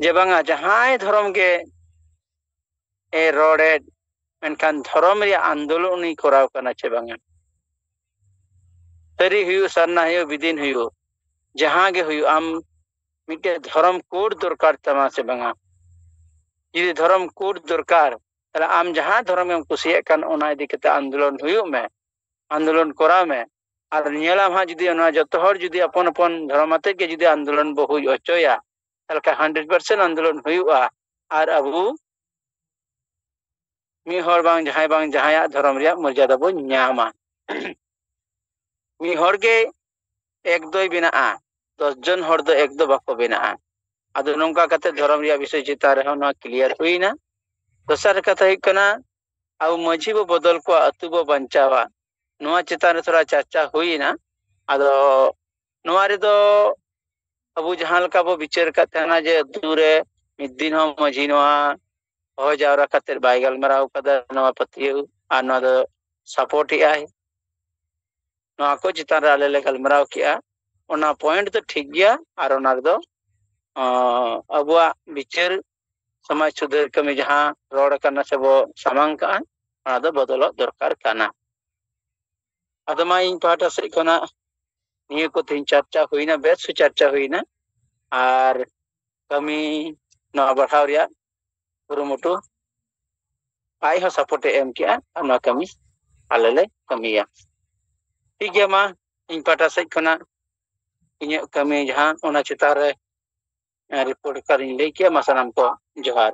ᱡᱮ ᱵᱟᱝᱟ ᱡᱟᱦᱟᱸᱭ ᱫᱷᱚᱨᱚᱢ ᱜᱮ ᱮ ᱨᱚᱲᱮᱫ ᱢᱮᱱᱠᱷᱟᱱ ᱫᱷᱚᱨᱚᱢ ᱨᱮᱭᱟᱜ ᱟᱱᱫᱳᱞᱚᱱ ᱩᱱᱤ ᱠᱚᱨᱟᱣ ᱠᱟᱱᱟ ᱪᱮ ᱵᱟᱝᱟ ᱥᱟᱹᱨᱤ ᱦᱩᱭᱩᱜ ᱥᱟᱨᱱᱟ ᱦᱩᱭᱩᱜ ᱵᱤᱫᱤᱱ ᱦᱩᱭᱩᱜ ᱡᱟᱦᱟᱸ ᱜᱮ ᱦᱩᱭᱩᱜ ᱟᱢ ᱢᱤᱫᱴᱮᱡ ᱫᱷᱚᱨᱚᱢ ᱠᱳᱰ ᱫᱚᱨᱠᱟᱨ ᱛᱟᱢᱟ ᱥᱮ ᱵᱟᱝᱟ ᱡᱩᱫᱤ ᱫᱷᱚᱨᱚᱢ ᱠᱳᱰ ᱫᱚᱨᱠᱟᱨ ᱛᱟᱦᱞᱮ ᱟᱢ ᱡᱟᱦᱟᱸ ᱫᱷᱚᱨᱚᱢ ᱮᱢ ᱠᱩᱥᱤᱭᱟᱜ ᱠᱟᱱ ᱚᱱᱟ ᱤᱫᱤ ᱠᱟᱛᱮ ᱟᱱᱫᱳᱞᱚᱱ ᱦᱩᱭᱩᱜ ᱢᱮ ᱟᱱᱫᱳᱞᱚᱱ ᱠᱚᱨᱟᱣ ᱢᱮ ᱟᱨ ᱧᱮᱞᱟᱢ ᱦᱟᱸᱜ ᱡᱩᱫᱤ ᱚᱱᱟ ᱡᱚᱛᱚ ᱦᱚᱲ ᱡᱩᱫᱤ ᱟᱯᱚᱱ ᱟᱯᱚᱱ ᱫᱷᱚᱨᱚᱢ ᱟᱛᱮ ᱜᱮ ᱡᱩᱫᱤ ᱟᱱᱫᱳᱞᱚᱱ ᱵᱚ ᱦᱩᱭ ᱦᱚᱪᱚᱭᱟ ᱛᱟᱦᱚᱞᱮ ᱠᱷᱟᱱ ᱦᱟᱱᱰᱨᱮᱰ ᱯᱟᱨᱥᱮᱱᱴ ᱟᱱᱫᱳᱞᱚᱱ ᱦᱩᱭᱩᱜᱼᱟ ᱟᱨ ᱟᱵᱚ ᱢᱤᱫ ᱦᱚᱲ ᱵᱟᱝ ᱡᱟᱦᱟᱸᱭ ᱵᱟᱝ ᱡᱟᱦᱟᱸᱭᱟᱜ ᱫᱷᱚᱨᱚᱢ ᱨᱮᱭᱟᱜ ᱢᱚᱨᱡᱟᱫᱟ ᱵᱚᱱ ᱧᱟᱢᱟ ᱢᱤᱫ ᱦᱚᱲ ᱜᱮ ᱮᱠ ᱫᱚᱭ ᱵᱮᱱᱟᱜᱼᱟ ᱫᱚᱥ ᱡᱚᱱ ᱦᱚᱲ ᱫᱚ ᱮᱠ ᱫᱚ ᱵᱟᱠᱚ ᱵᱮᱱᱟᱜᱼᱟ ᱟᱫᱚ ᱱᱚᱝᱠᱟ ᱠᱟᱛᱮ ᱫᱷᱚᱨᱚᱢ ᱨᱮᱭᱟᱜ ᱵᱤᱥᱚᱭ ᱪᱮᱛᱟᱱ ᱨᱮᱦᱚᱸ ᱱᱚᱣᱟ ᱠᱞᱤᱭᱟᱨ ᱦᱩᱭᱱᱟ ᱫᱚᱥᱟᱨ ᱠᱟᱛᱷᱟ ᱦᱩᱭᱩᱜ ᱠᱟᱱᱟ ᱟᱵᱚ ᱢᱟᱺᱡᱷᱤ ᱵᱚ ᱵᱚᱫᱚᱞ ᱠᱚᱣᱟ ᱟᱹᱛᱩ ᱵᱚ ᱵᱟᱧᱪᱟᱣᱟ ᱱᱚᱣᱟ ᱪᱮᱛᱟᱱ ᱨᱮ ᱛᱷᱚᱲᱟ ᱪᱟᱨᱪᱟ ᱦᱩᱭᱱᱟ ᱟᱫᱚ ᱱᱚᱣᱟ ᱨᱮᱫᱚ ᱟᱵᱚ ᱡᱟᱦᱟᱸ ᱞᱮᱠᱟ ᱵᱚ ᱵᱤᱪᱟᱹᱨ ᱠᱟᱫ ᱛᱟᱦᱮᱱᱟ ᱡᱮ ᱟᱹᱛᱩ ᱨᱮ ᱢᱤᱫ ᱫᱤᱱ ᱦᱚᱸ ᱢᱟᱺᱡᱷᱤ ᱱᱚᱣᱟ ᱦᱚᱦᱚ ᱡᱟᱣᱨᱟ ᱠᱟᱛᱮᱫ ᱵᱟᱭ ᱜᱟᱞᱢᱟᱨᱟᱣ ᱠᱟᱫᱟ ᱱᱚᱣᱟ ᱯᱟᱹᱛᱭᱟᱹᱣ ᱟᱨ ᱱᱚᱣᱟ ᱫᱚ ᱥᱟᱯᱳᱨᱴ ᱮᱜᱼᱟᱭ ᱱᱚᱣᱟ ᱠᱚ ᱪᱮᱛᱟᱱ ᱨᱮ ᱟᱞᱮ ᱞᱮ ᱜᱟᱞᱢᱟᱨᱟᱣ ᱠᱮᱜᱼᱟ ᱚᱱᱟ ᱯᱚᱭᱮᱱᱴ ᱫᱚ ᱴᱷᱤᱠ ᱜᱮᱭᱟ ᱟᱨ ᱚᱱᱟ ᱨᱮᱫᱚ ᱟᱵᱚᱣᱟᱜ ᱵᱤᱪᱟᱹᱨ ᱥᱚᱢᱟᱡᱽ ᱥᱩᱫᱷᱟᱹᱨ ᱠᱟᱹᱢᱤ ᱡᱟᱦᱟᱸ ᱨᱚᱲ ᱠᱟᱱᱟ ᱥᱮᱵᱚ ᱥᱟᱢᱟᱝ ᱠᱟᱜᱼᱟ ᱚᱱᱟ ᱫᱚ ᱵᱚᱫᱚᱞᱚᱜ ᱫᱚᱨᱠᱟᱨ ᱠᱟᱱᱟ ᱟᱫᱚ ᱢᱟ ᱤᱧ ᱯᱟᱦᱴᱟ ᱥᱮᱫ ᱠᱷᱚᱱᱟᱜ ᱱᱤᱭᱟᱹ ᱠᱚ ᱛᱮᱦᱮᱧ ᱪᱟᱨᱪᱟ ᱦᱩᱭᱱᱟ ᱵᱮᱥ ᱥᱩ ᱪᱟᱨᱪᱟ ᱦᱩᱭᱱᱟ ᱟᱨ ᱠᱟᱹᱢᱤ ᱱᱚᱣᱟ ᱵᱟᱲᱦᱟᱣ ᱨᱮᱭᱟᱜ ᱠᱩᱨᱩᱢᱩᱴᱩ ᱟᱡ ᱦᱚᱸ ᱥᱟᱯᱳᱨᱴ ᱮ ᱮᱢ ᱠᱮᱜᱼᱟ ᱟᱨ ᱱᱚᱣᱟ ᱠᱟᱹᱢᱤ ᱟᱞᱮ ᱞᱮ ᱠᱟᱹᱢᱤᱭᱟ ᱴᱷᱤᱠ ᱜᱮᱭᱟ ᱢᱟ ᱤᱧ ᱯᱟᱦᱴᱟ ᱥᱮᱫ ᱠᱷᱚᱱᱟᱜ ᱤᱧᱟᱹᱜ ᱠᱟᱹᱢᱤ ᱡᱟᱦᱟᱸ ᱚᱱᱟ ᱪᱮᱛᱟᱱ ᱨᱮ ᱨᱤᱯᱳᱨᱴ ᱠᱟᱨᱤᱧ ᱞᱟᱹᱭ ᱠᱮᱜᱼᱟ ᱢᱟ ᱥᱟᱱᱟᱢ ᱠᱚ ᱡᱚᱦᱟᱨ